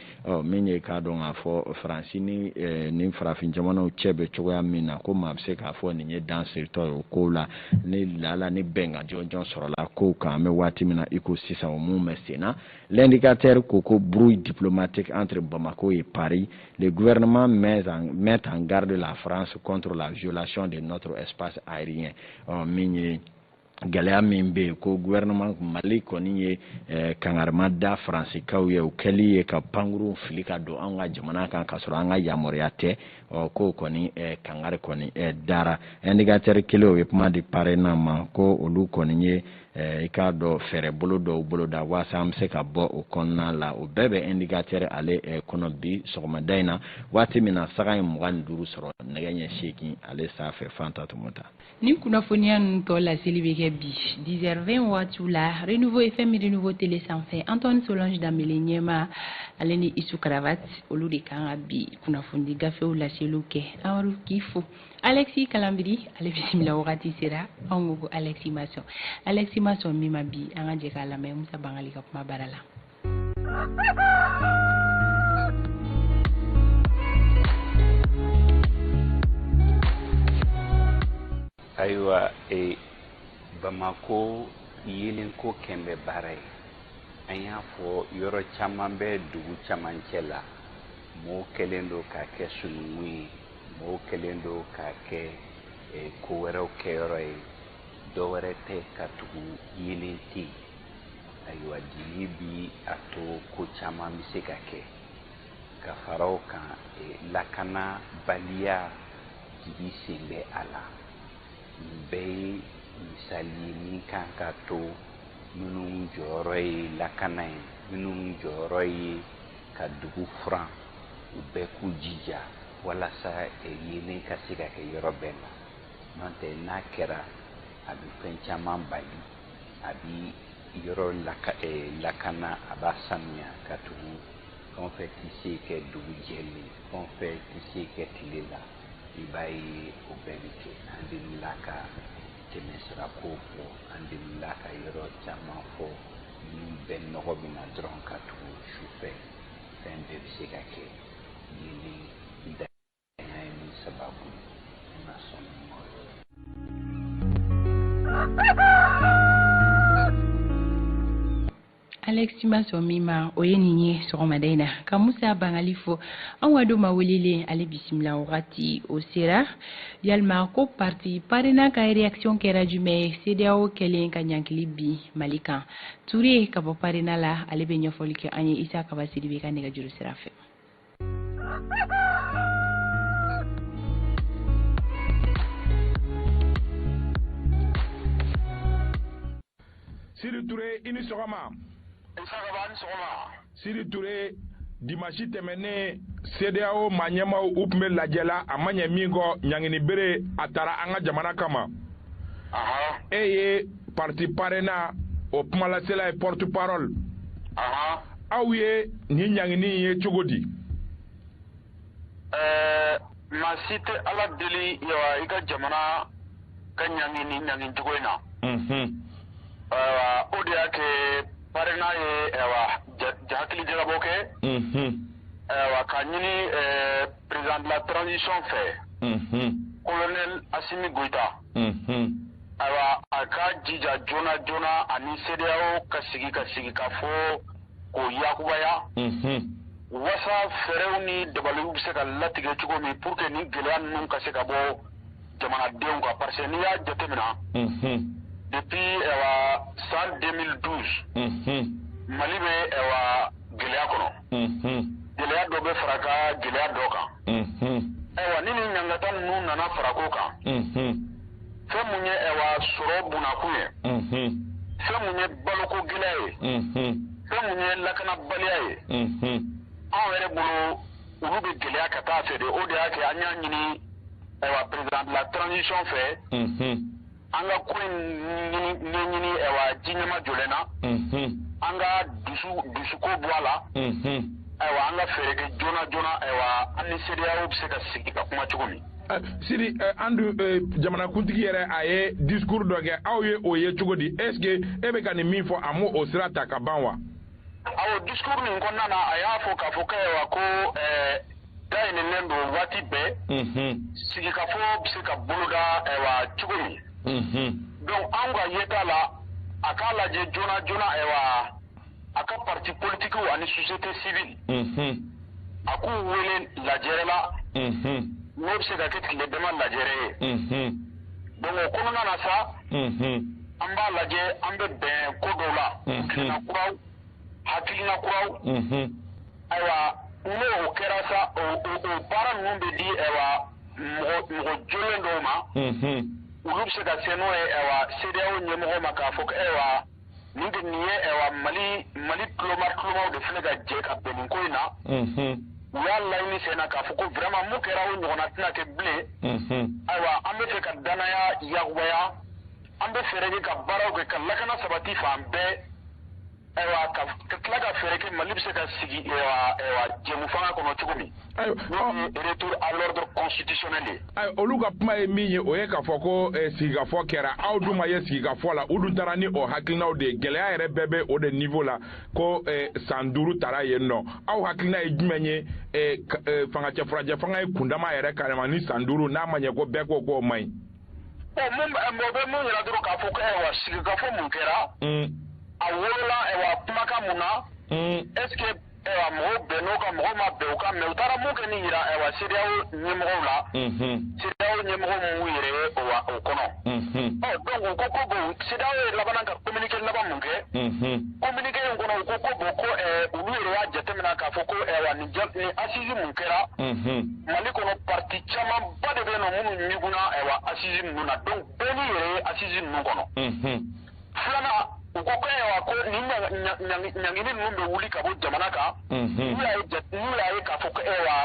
ɔ min ye k'a dɔn k'a fɔ faransi ni eh, ni farafin jamanaw cɛ bɛ cogoya min na ko maa bɛ se k'a fɔ nin ye dan siritɔ ye o kow la ni laala ni bɛnkan jɔnjɔn sɔrɔla kow kan an bɛ waati min na i ko sisan o mun bɛ sen na l'indicateur ko ko brouille diplomatique entre Bamako et Paris le gouvernement met en, met en garde la France contre la violation de notre espace aérien ɔ min ye gɛlɛya min bɛ yen ko gouvernement mali kɔni ye eh, kangarima da faransikaw ye o kɛli ye ka pankurunw fili ka don an ka jamana kan k'a sɔrɔ an ka yamaruya tɛ ɔ k'o kɔni eh, kangari kɔni eh, dara indicateur kelen o ye kuma di parena ma ko olu kɔni ye eh, i k'a dɔn fɛɛrɛ bolo dɔw boloda waasa an bɛ se ka bɔ o kɔnɔna la o bɛɛ bɛ indicateur ale eh, kɔnɔ bi sɔgɔmada in na waati min na sanga ye mugan ni duuru sɔrɔ nɛgɛ ɲɛ seegin ale sanfɛ fanta tɔmɔta Nin kunnafoniya ninnu tɔ laseli bɛ kɛ bi 10h20 waatiw la Renouveau FM Renouveau Télé sanfɛ Antoine Solange Dembele ɲɛma ale ni Isu Karavati olu de kan ka bi kunnafoni gafew laseliw kɛ Amadu k'i fo Alexis Kalanbiri ale bisimila wagati sera anw ko ko Alexis ma sɔn Alexis ma sɔn min ma bi an ka jɛ k'a lamɛn Musa Bangali ka kumabara la ayiwa e bamako yeelenko kɛn bɛ baara ye an y'a fɔ yɔrɔ caman bɛ dugu camancɛ la mɔɔw kɛlen don k'a kɛ sununkun ye mɔɔw kɛlen don k'a kɛ e, ko wɛrɛw kɛyɔrɔ ye dɔ wɛrɛ tɛ katugu yeelen tɛ yen ayiwa dibi bɛ a to ko caman bɛ se ka kɛ ka fara o kan lakanabaliya dibi sen bɛ a la nin bɛɛ ye misali ye min kan k'a to minnu jɔyɔrɔ ye lakana ye minnu jɔyɔrɔ ye ka dugu furan u bɛɛ k'u jija walasa yeelen ka se ka kɛ yɔrɔ bɛɛ la n'o tɛ n'a kɛra a bɛ fɛn caman bali a bi yɔrɔ laka ɛ eh, lakana a b'a sanuya katugu fɛn o fɛn tɛ se kɛ dugu jɛlen fɛn o fɛn tɛ se kɛ tile la i b'a ye o bɛɛ bɛ kɛ an delila ka tɛmɛ sira ko fɔ an delila ka yɔrɔ caman fɔ min bɛɛ nɔgɔ bɛ na dɔrɔn katugu sufɛ fɛn bɛɛ bɛ se ka kɛ yeelen na alexi ma sɔn min ma o ye nin ye sɔgɔmada in na ka musa bangali fo an ka don maa welelen ale bisimila wagati o sera yalima ko parti parena ka reaction kɛra jumɛn ye CEDEAO kɛlen ka ɲangili bin mali kan ture ka bɔ parena la ale bɛ ɲɛfɔli kɛ an ye isa kaba sidibe ka nɛgɛjuru sira fɛ sidi ture i ni sɔgɔma sidi ture dimasi tɛmɛnnen sedeyawo maa ɲɛmaw u tun bɛ lajɛ la a ma ɲɛ min kɔ ɲangini bɛrɛ a tara an ka jamana kama e ye parti parena o kumalasela ye porte parole aw ye nin ɲangini ye cogo di ɛɛ maa si tɛ ala deli ɛwa i ka jamana ka ɲangi nin ɲangi cogo in na ayiwa o de y'a kɛ parena ye ayiwa hakili jagabɔ kɛ ayiwa ka ɲini président de la transition fɛ colonel asimi goyita Ayiwa a ka jija joona joona ani CEDEAO ka sigi ka sigikafɔ ko yakubaya. Unhun. Wasa fɛɛrɛw ni dabaliw bɛ se ka latigɛ cogo min pour que nin gɛlɛya ninnu ka se ka bɔ jamanadenw kan parce que n'i y'a jatemina. Unhun. Depuis ɛwa san 2012. Unhun. Mali bɛ ɛwa gɛlɛya kɔnɔ. gɛlɛya dɔ bɛ fara ka gɛlɛya dɔ kan ayiwa ni nin ɲangata ninnu nana fara k'o kan fɛn mun ye ayiwa sɔrɔ bunakun ye fɛn mun ye baloko gɛlɛya ye fɛn mun ye lakanabaliya ye anw yɛrɛ bolo olu bɛ gɛlɛya ka taa a fɛ de o de y'a kɛ an y'a ɲini ayiwa président de la transition fɛ an ka ko in ɲɛɲini ɛwa ji ɲɛmajɔlen na an ka dusu dusuko bɔ a la ayiwa an ka fɛɛrɛ kɛ joona joona ayiwa an ni CEDEAO bɛ se ka sigi ka kuma cogo min sidi an dun jamanakuntigi yɛrɛ a ye discours dɔ kɛ aw ye o ye cogo di est ce que e bɛ ka nin min fɔ a m'o o sira ta ka ban wa awɔ discours nin kɔnɔna na a y'a fɔ k'a fɔ k'ayiwa ko ɛɛ dayɛlɛlen don waati bɛɛ sigikafɔ bɛ se ka boloda ayiwa cogo min donc anw ka yeta la a k'a lajɛ joona joona ayiwa a ka parti politikiw ani société civile a k'u wele lajɛrɛ la n'o bɛ se ka kɛ tile dama lajɛrɛ ye donc o kɔnɔna na sa an b'a lajɛ an bɛ bɛn ko dɔw la hakilina kuraw hakilina kuraw ayiwa n'o kɛra sa o baara ninnu bɛ di ayiwa mɔgɔ jɔlen dɔw ma olu bɛ se ka se n'o ye ayiwa CEDEAO ɲɛmɔgɔw ma k'a fɔ ko ayiwa nin de nin ye ɛwa mali mali tuloma tulomaw de filɛ ka jɛ ka bɛn nin ko in na u y'a laɲini sen na k'a fɔ ko vraiment mun kɛra o ɲɔgɔnna tɛna kɛ bilen ayiwa an bɛ fɛ ka danaya yakubaya an bɛ fɛɛrɛ kɛ ka baaraw kɛ ka lakana sabati fan bɛɛ ayiwa ka tila ka fɛɛrɛ kɛ mali bɛ se ka segin jɛmufanga kɔnɔ cogo min olu ka kuma ye min ye o ye k'a fɔ ko eh, sigikafɔ kɛra aw dun ma ye sigikafɔ la u dun taara ni o hakilinaw de ye gɛlɛya yɛrɛ bɛɛ bɛ o de niveau la ko eh, san duuru tara yen nɔ aw hakilina ye jumɛn ye eh, fangacɛ furancɛfanga ye kundama yɛrɛ carrément ni san duuru n'a ma ɲɛ ko bɛɛ ko k'o man ɲi. mɔgɔ bɛ mun yira dɔrɔn k'a fɔ ko ayiwa sigikafɔ mun kɛra. Mm. a wolola ayiwa kumakan mun na. Mm. est ce que ayiwa mɔgɔw bɛnn'o kan mɔgɔw ma bɛn o kan mais u taara mun kɛ ni yira ayiwa CEDEAO ɲɛmɔgɔw la CEDEAO ɲɛmɔgɔw m'u yɛrɛ ye o kɔnɔ ɔ donc u ko ko bon CEDEAO ye laban a ka communiqué laban mun kɛ communiqué in kɔnɔ u ko ko bon ko olu yɛrɛ y'a jateminɛ k'a fɔ ko ayiwa nin nin assise mun kɛra mali kɔnɔ parti camanba de bɛ yen nɔ minnu ɲigunna ayiwa assise ninnu na donc bɛɛ m'i yɛrɛ ye assise ninnu kɔnɔ filanan u ko ko ayiwa ko nin ɲangini ninnu bɛ wuli ka bɔ jamana kan mhm. n'u y'a ye k'a fɔ ko ayiwa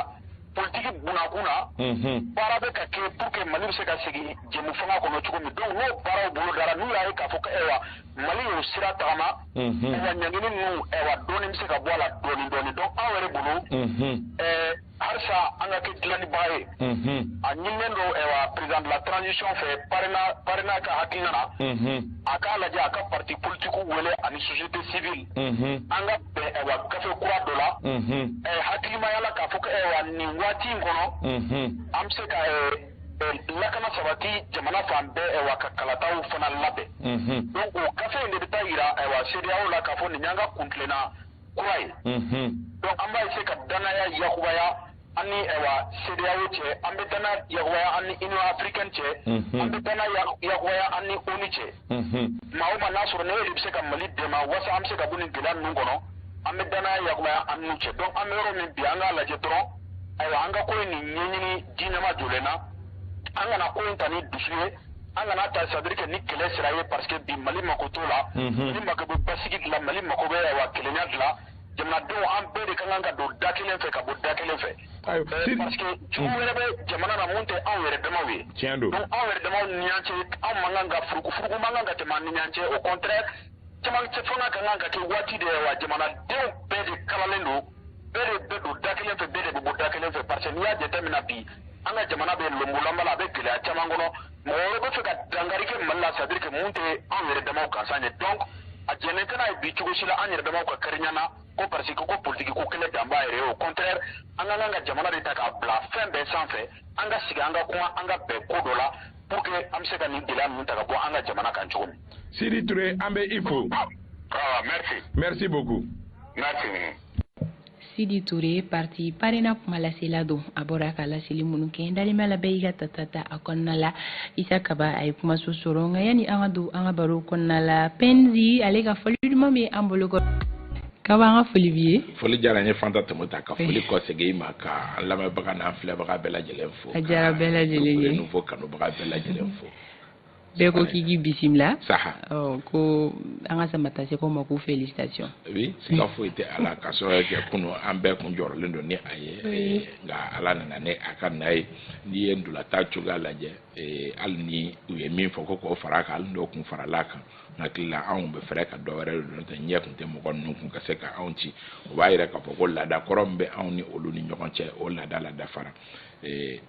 politiki bunakun na mhm. baara bɛ ka kɛ pour que mali bɛ se ka segin jɛmufanga kɔnɔ cogo min donc n'o baaraw bolodara n'u y'a ye k'a fɔ ko ayiwa mali y'o sira tagama mhm. ayiwa ɲangini ninnu ayiwa dɔɔni bɛ se ka bɔ a la dɔɔni dɔɔni donc anw yɛrɛ bolo halisa an ka kɛ dilannibaa ye a ɲininen don président de la transition fɛ PARENA ka hakilina na a k'a lajɛ a ka parti politiques wele ani société civile an ka bɛn gafe kura dɔ la hakilimaya la k'a fɔ ko nin waati in kɔnɔ an bɛ se ka lakana sabati jamana fan bɛɛ wa ka kalataw fana labɛn donc o gafe in de bɛ taa yira CEDEAO la k'a fɔ nin y'an ka kuntilenna kura ye donc an b'a essayer ka danaya yakubaya an ni ayiwa CEDEAO cɛ an bɛ danaya yakubaya an ni Union africaine cɛ an bɛ danaya yakubaya an ni ONU cɛ maa o maa n'a sɔrɔ ni e de bɛ se ka Mali dɛmɛ walasa an bɛ se ka bɔ nin gɛlɛya ninnu kɔnɔ an bɛ danaya yakubaya an n'u cɛ donc an bɛ yɔrɔ min bi an k'a lajɛ dɔrɔn ayiwa an ka ko in nin ɲɛɲini de ɲɛmajɔlen na an kana ko in ta ni dusu ye an kana ta c'est à dire que ni kɛlɛ sira ye parce que bi mali mako t'o la mali mako bɛ basigi de la mali mako bɛ wa kelenya de la jamanadenw an bɛɛ de ka kan ka don da kelen fɛ ka bɔ da kelen fɛ euh, parce que jugu mm. wɛrɛ bɛ jamana na mun tɛ anw yɛrɛ damaw ye tiɲɛ don donc anw yɛrɛ damaw ni ɲɔgɔn cɛ anw man kan ka furuku furuku man kan ka tɛmɛ an ni ɲɔgɔn cɛ au contraire camancɛ fanga ka kan ka kɛ waati de ye wa jamanadenw bɛɛ de kalalen don bɛɛ de bɛ don da kelen fɛ bɛɛ de bɛ bɔ da kelen fɛ parce que n'i y'a jateminɛ bi an ka jamana bɛ lonbolanba la a bɛ gɛlɛya caman kɔnɔ mɔgɔ wɛrɛ b'a fɛ ka dankari kɛ mali la c'est à dire que mun tɛ anw yɛrɛ damaw gansan ye donc a jɛnnen tɛ n'a ye bi cogo si la an yɛrɛ damaw ka kari ɲɔgɔn na ko parce que ko politiki ko kɛlɛ dan b'a yɛrɛ ye au contraire an ka kan ka jamana de ta k'a bila fɛn bɛɛ sanfɛ an ka sigi an ka kuma an ka bɛn ko dɔ la pour que an bɛ se ka nin gɛlɛya ninnu ta ka bɔ an ka jamana kan cogo min. Sidi Ture an bɛ i fo. Ah, merci. Merci beaucoup. Merci. Sidi Ture parti parena kuma lasela don a bɔra ka laseli minnu kɛ n dalen b'a la bɛɛ y'i ka tata ta a kɔnɔna la isa kaba a ye kumaso sɔrɔ nka yanni an ka don an ka baro kɔnɔna la pɛnzi ale ka foli duman bɛ an bolo kɔrɔ kaba an ka foli b'i ye foli diyara n ye fanta tɛmɛta ka foli kɔsegin i ma ka an lamɛnbaga n'an filɛbaga bɛɛ lajɛlen a diyara bɛɛ lajɛlen ye Renouveau kanubaga bɛɛ lajɛlen fo bɛɛ ko k'i k'i bisimila saha ɔ ko an ka samatasɛgɛw ma ko félicitation oui siga foyi tɛ a la ka sababu kɛ kunu an bɛɛ kun jɔrɔlen don ni a ye eh, nka ala nana ni a ka na ye n'i ye ntolatan cogoya lajɛ eh, hali ni u ye min fɔ ko k'o fara a kan hali n'o kun farala a kan n hakili la anw bɛ fɛrɛ ka dɔ wɛrɛ de don tɛ ɲɛ kun tɛ mɔgɔ ninnu kun ka se ka anw ci o b'a yira k'a fɔ ko laada kɔrɔ min bɛ anw ni olu ni ɲɔgɔn cɛ o laada ladafara ee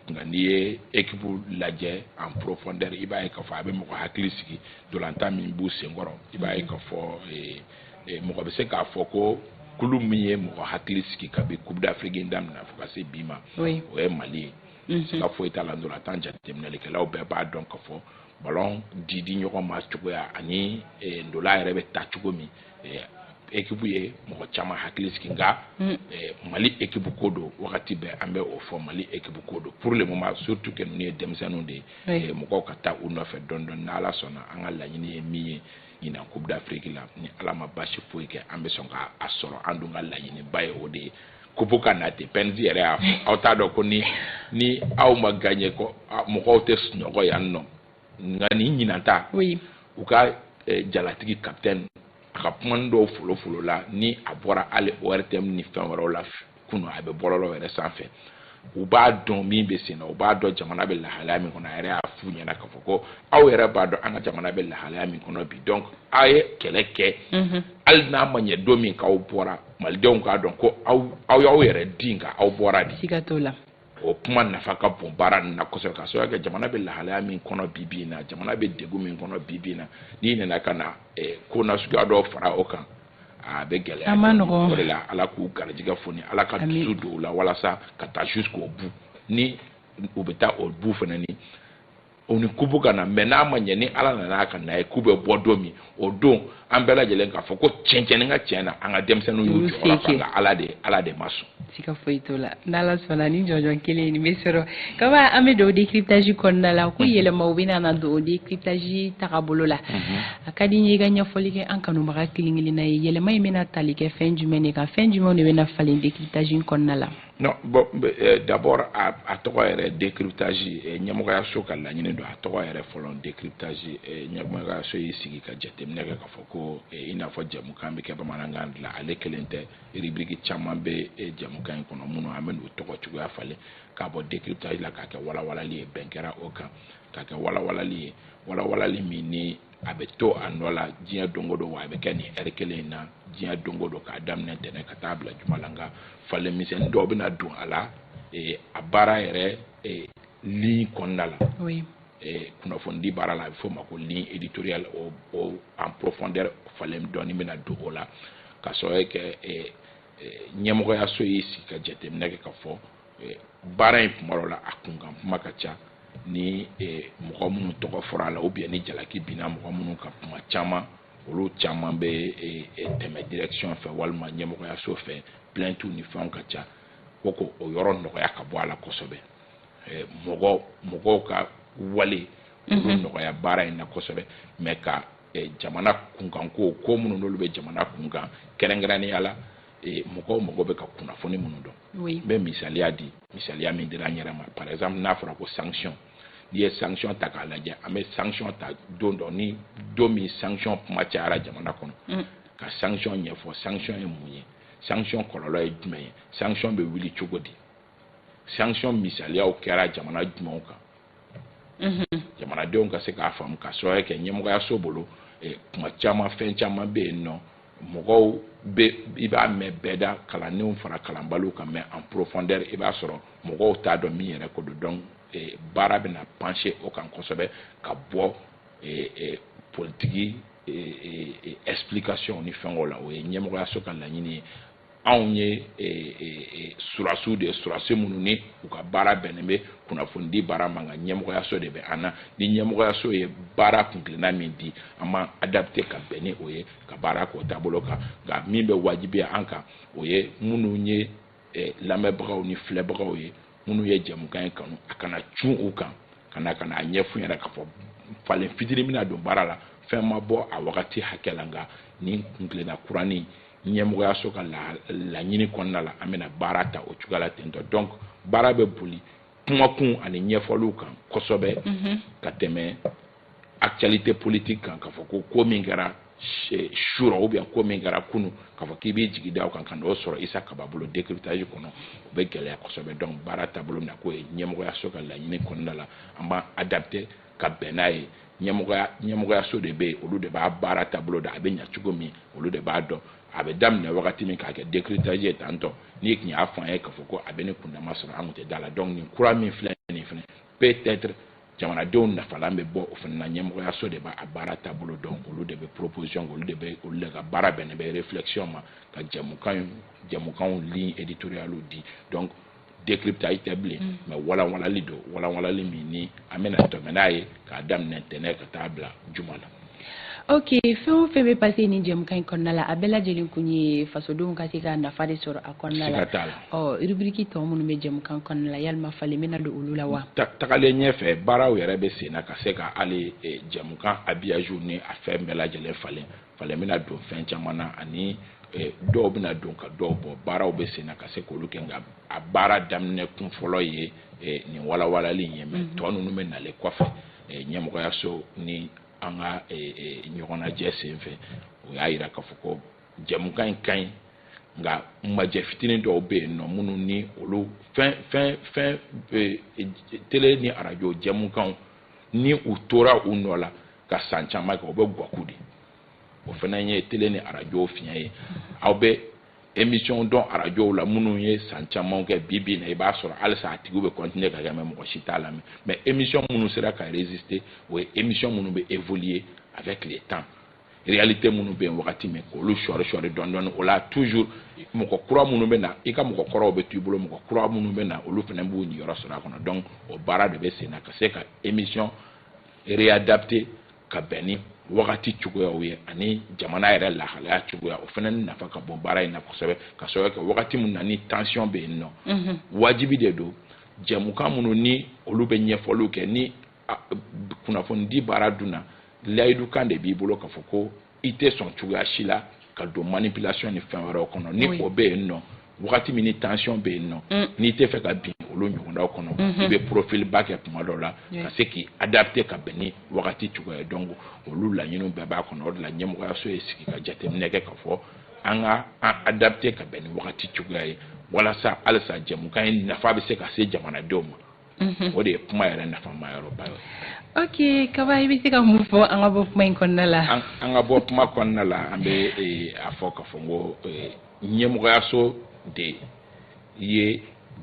nka n'i ye ekipu lajɛ en profondeur i b'a ye k'a fɔ a bɛ mɔgɔ hakili sigi ntolatan min b'u senkɔrɔ i b'a ye k'a fɔ mɔgɔ bɛ se k'a fɔ ko kulu min ye mɔgɔ hakili sigi kabi coupe d'afrique in daminɛ fo ka se bi ma o ye mali ye mhm. siga foyi t'a la ntolatan jateminɛlikɛlaw bɛɛ b'a dɔn k'a fɔ ballon di di ɲɔgɔn ma cogoya ani ntola yɛrɛ bɛ tan cogo min ekipu ye mɔgɔ caman hakili sigi nka hmm. eh, mali ekipu ko don wagati bɛɛ an bɛ o fɔ mali ekipu ko don pour le moment surtout que ninnu ye denmisɛnninw de ye eh, mɔgɔw ka taa u nɔfɛ dɔɔni dɔɔni ni ala sɔnna an ka laɲini ye min ye ɲinan coupe d'afrique la ni ala ma basi foyi kɛ an bɛ sɔn ka a sɔrɔ an dun ka laɲiniba ye o de ye kupu ka na ten pɛnzi yɛrɛ y'a fɔ aw t'a dɔn ko ni ni aw ma gagné ko mɔgɔw tɛ sunɔgɔ yan nɔ nka ni ɲinanta u ka eh, jalatigi kapitɛni a ka kuma dɔw folofolo la ni a bɔra hali ortm ni fɛn wɛrɛw la kunu a bɛ bɔlɔlɔ yɛrɛ sanfɛ u b'a dɔn min bɛ sen na u b'a dɔn jamana bɛ lahalaya min kɔnɔ a yɛrɛ y'a f'u ɲɛna k'a fɔ ko aw yɛrɛ b'a dɔn an ka jamana bɛ lahalaya min kɔnɔ bi donc aw ye kɛlɛ kɛ mhm. hali n'a ma ɲɛ don min k'aw bɔra malidenw k'a dɔn ko aw y'aw yɛrɛ di nka aw bɔra de o kuma nafa ka bon baara nin na kosɛbɛ ka sababu kɛ jamana bɛ lahalaya min kɔnɔ bi bi in na jamana bɛ degun min kɔnɔ bi bi in na n'i nana ka na eh, ko nasuguya dɔw fara o kan a bɛ gɛlɛya a ma nɔgɔn o de la ala k'u garijɛgɛ foni ala ka dusu don u la walasa ka taa jusqu'au bout ni u bɛ taa o bout fana ni u ni kupu ka na mais n'a ma ɲɛ ni ala nana ka n'a ye k'u bɛ bɔ don min o don an bɛɛ lajɛlen k'a fɔ ko tiɲɛ tiɲɛ ni ka tiɲɛ na an ka denmisɛnninw y'u jɔyɔrɔ fa nka ala de ala de ma sɔn siga foyi t'o la n'ala sɔnna ni jɔnjɔn kelen nin bɛ sɔrɔ kaba an bɛ don décryptage kɔnɔna la ko yɛlɛmaw bɛna na don décryptage tagabolo la a ka di n ye i ka ɲɛfɔli kɛ an kanubaga kelen kelenna ye yɛlɛma in bɛna tali kɛ fɛn jumɛn de kan fɛn jumɛnw de bɛna falen décryptage kɔnɔna la Non, bon, euh, d'abord a, a tɔgɔ yɛrɛ décryptage euh, ɲɛmɔgɔyaso ka laɲini don a tɔgɔ yɛrɛ fɔlɔ décryptage euh, ɲɛmɔgɔyaso y'i sigi ka jateminɛ kɛ k'a fɔ ko i n'a fɔ jɛmukan bɛ kɛ bamanankan de la ale kelen tɛ rubrique caman bɛ jɛmukan in kɔnɔ minnu an bɛn'u tɔgɔ cogoya falen k'a bɔ décryptage la k'a kɛ walawalali ye bɛn kɛra o kan k'a kɛ walawalali ye walawalali min ni a bɛ to a nɔ la diɲɛ don o don wa a bɛ kɛ nin heure kelen in na diɲɛ don o don k'a daminɛ ntɛnɛn ka taa bila juma la nka falen misɛnnin dɔw bɛna don a la eh, a baara yɛrɛ eh, ligne kɔnɔna la eh, kunnafonidi baara la a bɛ f'o ma ko ligne éditoriale o o en profondeur falen dɔɔni bɛna don o la ka sɔrɔ kɛ ɲɛmɔgɔyaso y'i sigi ka jateminɛ kɛ ka fɔ eh, baara in kuma la a kunkan kuma ka ca ni eh, mɔgɔ minnu tɔgɔ fɔra a la ou bien ni jalaki binna mɔgɔ minnu kan kuma caman olu caman bɛ eh, tɛmɛ direction fɛ walima ɲɛmɔgɔyaso fɛ plainte ni fɛnw ka ca ko k'o yɔrɔ nɔgɔya ka bɔ a la kosɛbɛ mɔgɔ mɔgɔw ka wale olu mhm. nɔgɔya baara in na kosɛbɛ mais ka jamana kunkanko ko minnu n'olu bɛ jamana kunkan kɛrɛnkɛrɛnnenya la eh, mɔgɔw mɔgɔ bɛ ka kunnafoni minnu dɔn n bɛ misaliya di misaliya min dira an yɛrɛ ma par exemple n'a fɔra ko sanction n'i ye sanction ta k'a lajɛ an bɛ sanction ta don dɔ ni don min sanction kuma cayara jamana kɔnɔ mm. ka sanction ɲɛfɔ sanction ye mun ye sanction kɔlɔlɔ ye jumɛn ye sanction bɛ wuli cogo di sanction misaliyaw kɛra jamana jumɛnw kan mhm. jamanadenw ka se k'a faamu parce que ɲɛmɔgɔyaso bolo eh, kuma caman fɛn caman bɛ yen nɔ mɔgɔw bɛ i b'a mɛn bɛɛ da kalannenw fara kalanbaliw kan mais en profondeur i b'a sɔrɔ mɔgɔw t'a dɔn min yɛrɛ ko don donc eh, baara bɛna pencher o kan kosɛbɛ ka bɔ eh, politiki explication ni fɛnw la o ye ɲɛmɔgɔyaso ka laɲini ye anw ye e, e, e, sɔrɔdasiw de ye sɔrɔdasi minnu ni u ka baara bɛnnen bɛ kunnafonidi baara ma nka ɲɛmɔgɔyaso de bɛ an na ni ɲɛmɔgɔyaso ye baara kuntilenna min di an ma adapter ka bɛn ni o ye ka baara k'o taabolo kan nka min bɛ wajibiya an kan o ye minnu ye lamɛnbagaw ni filɛbagaw ye minnu ye jɛmukan in kanu a kana cun u kan ka na ka na a ɲɛf'u ɲɛna k'a fɔ falen fitinin bɛna don baara la fɛn ma bɔ a wagati hakɛ la nka nin kuntilenna kuranin ɲɛmɔgɔyaso ka laɲini kɔnɔna la an bɛna baara ta o cogoya la tentɔ donc baara bɛ boli kumakun ani ɲɛfɔliw kan kosɛbɛ mhm. ka tɛmɛ actualité politique kan k'a fɔ ko ko min kɛra surɔ ou bien ko min kɛra kunu k'a fɔ k'i b'i jigi da o kan ka n'o sɔrɔ isa kaba bolo décryptage kɔnɔ o bɛ gɛlɛya kosɛbɛ donc baara taabolo min na k'o ye ɲɛmɔgɔyaso ka laɲini kɔnɔna la an b'an adapter ka bɛn n'a ye ɲɛmɔgɔyaso de bɛ yen olu de b'a baara taabolo da a bɛ ɲa cogo min olu de b'a dɔn a bɛ daminɛ wagati min k'a kɛ décryptage ye tan tɔ n'i tun y'a fɔ an ye k'a fɔ ko a bɛ nin kundama sɔrɔ an tun tɛ d'a la donc nin kura min filɛ nin fana peut-être jamanadenw nafalan bɛ bɔ o fana na ɲɛmɔgɔyaso de b'a baara taabolo dɔn olu de bɛ proposition olu de bɛ olu de ka baara bɛnnen bɛ réflexion ma ka jɛmukan jɛmukanw ligne éditoriale di donc décryptage tɛ bilen mm. mais walanwalali don walanwalali min ni an bɛna tɛmɛ n'a ye k'a daminɛ ntɛnɛn ka taa bila juma la ok fɛn o fɛn bɛ passer nin jɛmukan in kɔnɔna la a bɛɛ lajɛlen kun ye fasodenw ka se ka nafa de sɔrɔ a kɔnɔna la ɔ rubrique tɔ minnu bɛ jɛmukan kɔnɔna la yalima falen bɛna don olu la wa tagalen ɲɛfɛ baaraw yɛrɛ bɛ sen na ka se ka hali eh, jɛmukan habillage ni a fɛn bɛɛ lajɛlen falen falen bɛna don fɛn caman na ani eh, dɔw bɛna don ka dɔw bɔ baaraw bɛ sen na ka se k'olu kɛ nka a baara daminɛ kun fɔlɔ ye eh, nin walawalali in ye mais mhm. tɔ ninnu bɛ nalen kɔfɛ eh, ɲɛmɔgɔyaso ni an ka ɲɔgɔnnajɛ sen fɛ u y'a jira k'a fɔ ko jɛmukan in ka ɲi nka majɛ fitinin dɔw bɛ yen nɔ minnu ni olu fɛn fɛn fɛn tele ni arajo jɛmukanw ni u tora u nɔ la ka san caman kɛ o bɛ gwaku de o fana ye tele ni arajow fiɲɛ ye aw bɛ émission dɔn arajow la minnu ye san caman kɛ bi bi na i b'a sɔrɔ halisa a tigiw bɛ continuer ka kɛ mais mɔgɔ si t'a lamɛn mais émission minnu sera ka résister o ye émission minnu bɛ évoluer avec le temps réalité minnu bɛ yen wagati min k'olu sɔɔri sɔɔri dɔɔni dɔɔni o la toujours mɔgɔ kura minnu bɛ na i ka mɔgɔ kɔrɔw bɛ to i bolo mɔgɔ kura minnu bɛ na olu fana b'u niyɔrɔ sɔrɔ a kɔnɔ donc o baara de bɛ sen na ka se ka émission réadapter ka bɛn ni wagati cogoyaw ye ani jamana yɛrɛ lahalaya cogoya o fana nafa ka bon baara in na kosɛbɛ k'a sababu kɛ wagati min na ni tension bɛ yen nɔ wajibi de don jɛmukan minnu ni olu bɛ ɲɛfɔliw kɛ ni kunnafonidi baara dun na layidukan de b'i bolo k'a fɔ ko i tɛ sɔn cogoya si la ka don manipulation ni fɛn wɛrɛw kɔnɔ ni o bɛ yen nɔ wagati min ni tension bɛ yen nɔ mm. n'i tɛ fɛ ka bin olu ɲɔgɔndaw kɔnɔ mm-hmm. i bɛ profil bas kɛ tuma dɔw la ka se k'i adapter ka bɛn ni wagati cogoya ye donc olu laɲiniw bɛɛ b'a kɔnɔ o de la ɲɛmɔgɔyaso ye sigi ka jateminɛ kɛ k'a fɔ an ka an adapter ka bɛn ni wagati cogoya ye walasa halisa jɛmukan in nafa bɛ se ka se jamanadenw ma mhm. o de ye kuma yɛrɛ nafama yɔrɔba ye ok kaba i bɛ se ka mun fɔ an ka bɔ kuma in kɔnɔna la an ka bɔ kuma kɔnɔna la an bɛ eh, a fɔ k'a fɔ ko eh, ɲɛmɔgɔyaso de ye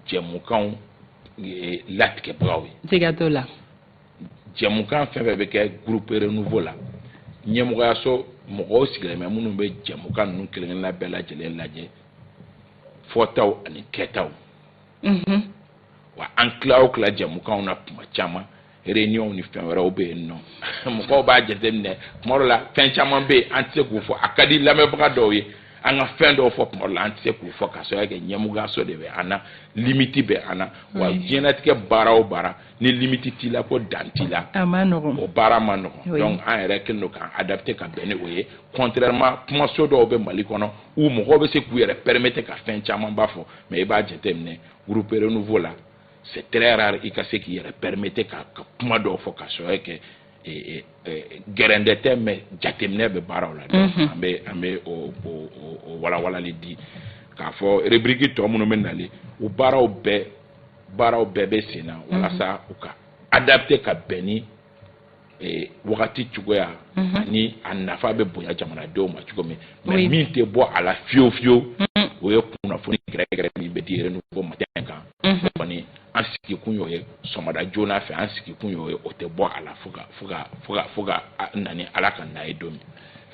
jɛmukanw eh, latigɛbagaw ye siga t'o la jɛmukan fɛn fɛn bɛ kɛ groupe renouveau la ɲɛmɔgɔyaso mɔgɔw sigilen bɛ minnu bɛ jɛmukan ninnu kelen kelenna bɛɛ lajɛlen lajɛ fɔtaw ani kɛtaw mhm. wa an tila o tila jɛmukanw na tuma caman réunion ni fɛn wɛrɛw bɛ yen nɔ mɔgɔw b'a jateminɛ tuma dɔ la fɛn caman bɛ yen an tɛ se k'u fɔ a ka di lamɛnbaga dɔw ye an ka fɛn dɔw fɔ tuma dɔ la an tɛ se k'u fɔ k'a sababuya kɛ ɲɛmɔgɔyaso de bɛ an na limite bɛ an na wa diɲɛnatigɛ baara o baara ni limite t'i la ko dan t'i la o baara man nɔgɔn donc an yɛrɛ kɛlen don k'an adapter ka bɛn ni o ye contrairement kumaso dɔw bɛ mali kɔnɔ où mɔgɔw bɛ se k'u yɛrɛ permettre ka fɛn camanba fɔ mais i b'a jateminɛ groupe renouveau la c'est très rare i ka se k'i yɛrɛ permettre ka ka kuma dɔw fɔ k'a sababu kɛ gɛrɛntɛ tɛ mais jateminɛ bɛ baaraw la an bɛ an bɛ o o walawalali di k'a fɔ rubrique tɔ minnu bɛ nalen o baaraw bɛɛ baaraw bɛɛ bɛ sen na walasa u ka adapter ka bɛn ni eh, wagati cogoya mhm. ani a nafa bɛ bonya jamanadenw ma cogo min mais min tɛ bɔ a la fiyewu fiyewu mhm. o ye kunnafoni gɛrɛgɛrɛ min bɛ di renouveau matin kan mhm. kɔni an sigikun y'o ye sɔgɔmada joona fɛ an sigikun y'o ye o tɛ bɔ a la fo ka fo ka fo ka fo ka na ni ala ka na ye don min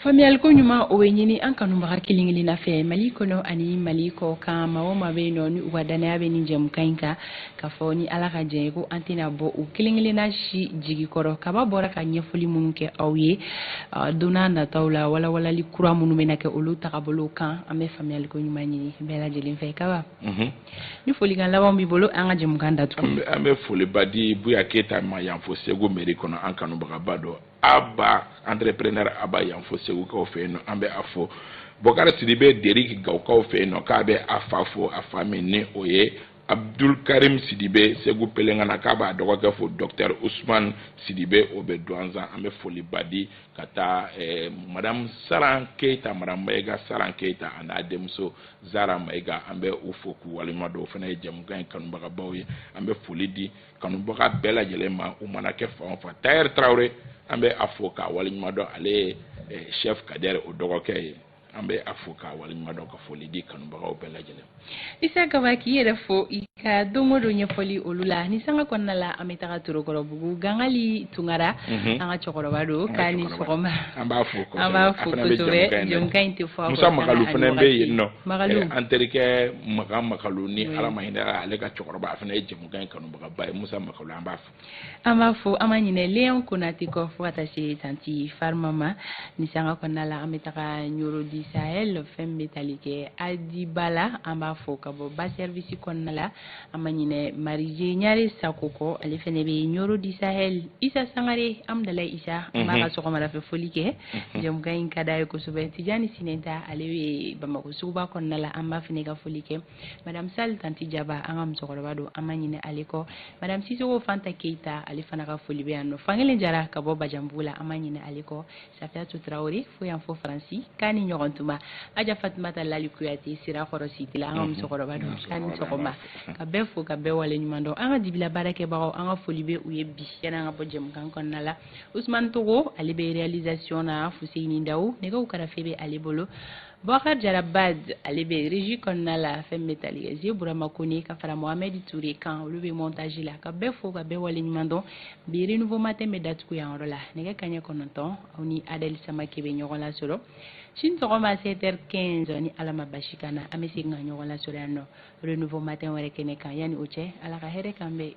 faamuyali ko ɲuman o bɛ ɲini an kanubaga kelen kelenna fɛ mali kɔnɔ ani mali kɔkan maa o maa bɛ yen nɔ ni u ka dannaya bɛ nin jɛmukan in kan k'a fɔ ni ala ka jɛn ye ko an tɛna bɔ u kelen kelenna si jigi kɔrɔ kaba bɔra ka ɲɛfɔli minnu kɛ aw ye don n'a nataw la walawalali kura minnu bɛna kɛ olu tagabolo kan an bɛ faamuyali ko ɲuman ɲini bɛɛ lajɛlen fɛ kaba mhm. ni folikan laban b'i bolo an ka jɛmukan datugu an bɛ foliba di buya keyita ma yan fo segu mairie kɔnɔ an kanubagaba dɔ aba entrepreneur aba yan fo segukaw fɛ yen nɔ an bɛ a fo bɔkari sidibe deriki gawukaw fɛ yen nɔ k'a bɛ a fa fo a fa min ni o ye abdul karim sidibe segu pelengana k'a b'a dɔgɔkɛ fo docteur usman sidibe o bɛ duwanzan an bɛ foliba di ka taa eh, madame saran keyita madame mayiga saran keyita a n'a denmuso zara mayiga an bɛ u fo k'u waleɲuman dɔn o fana ye jɛmukan in kanubagabaw ye an bɛ foli di kanubaga bɛɛ lajɛlen ma u mana kɛ fan o fan tayɛri tarawele an bɛ a fo k'a waleɲuman dɔn ale ye eh, chef kadɛri o dɔgɔkɛ ye an bɛ a fo k'a waleɲuman dɔn ka foli di kanubagaw bɛɛ lajɛlen isa kaba k'i yɛrɛ fo i ka don o don ɲɛfɔli olu la ni sanga kɔnɔna la an bɛ taga torokɔrɔbugu gangali tunkara mhm. an ka cɛkɔrɔba don k'a ni sɔgɔma an b'a fo an b'a fo kosɛbɛ jɛmukan in tɛ fɔ musa makalu fana bɛ yen nɔ eh, an terikɛ makan makalu ni mhm. ala ma hinɛ a la ka cɛkɔrɔba a fana ye jɛmu Kan kanubagaba ye musa makalu an b'a fo an b'a fo an ma ɲinɛ leon konatɛ kɔ fo ka taa se tanti farima ma ni sanga kɔnɔna la an bɛ taga ɲɔrɔ du sahel fɛn bɛ tali kɛ alidi ba la an b'a fo ka bɔ ba service kɔnɔna la an ma ɲinɛ marije ɲare sakɔ kɔ ale fana bɛ ɲɔrɔ du sahel isa sangare amdalayi isa an b'a ka sɔgɔma fɛ foli kɛ jɛmukan in ka d'a ye kosɛbɛ tijani sinɛnta ale bɛ bamakɔ suguba kɔnɔna la an b'a fana ka foli kɛ madame sal tanti jaba an ka musokɔrɔba don an ma ɲinɛ ale kɔ madame sisoko fanta keyita ale fana ka foli bɛ yan nɔ fankelen jara ka bɔ bajanbugu la an ma ɲinɛ ale kɔ safiyatu tarawele fo yan fo faransi k'a ni ɲɔgɔn tuma aja fatumata lali kuyate sirakɔrɔ cité la an ka mhm. musokɔrɔba don k'a ni sɔgɔma ka bɛɛ fo ka bɛɛ waleɲuman dɔn an ka dibi la baarakɛbagaw an ka foli bɛ u ye bi yanni an ka bɔ jɛmukan kɔnɔna la usumani togo ale bɛ réalisation na fuseyini dawu nɛgɛw karafe bɛ ale bolo Bɔkari Jara Baz ale bɛ régie kɔnɔna la fɛn bɛ tali kɛ Zi Burama Kone ka fara Mohamed Ture kan olu bɛ montage la ka bɛɛ fo ka bɛɛ waleɲuman dɔn bi renouveau matin bɛ datugu yan yɔrɔ la nɛgɛ kaɲɛ kɔnɔntɔn aw ni Adel Samake bɛ ɲɔgɔn lasɔrɔ sini sɔgɔma 7 heures 15 ni Ala ma basi k'an na an bɛ segin ka ɲɔgɔn lasɔrɔ yan nɔ renouveau matin wɛrɛ kɛnɛ kan yanni o cɛ Ala ka hɛrɛ k'an bɛɛ ye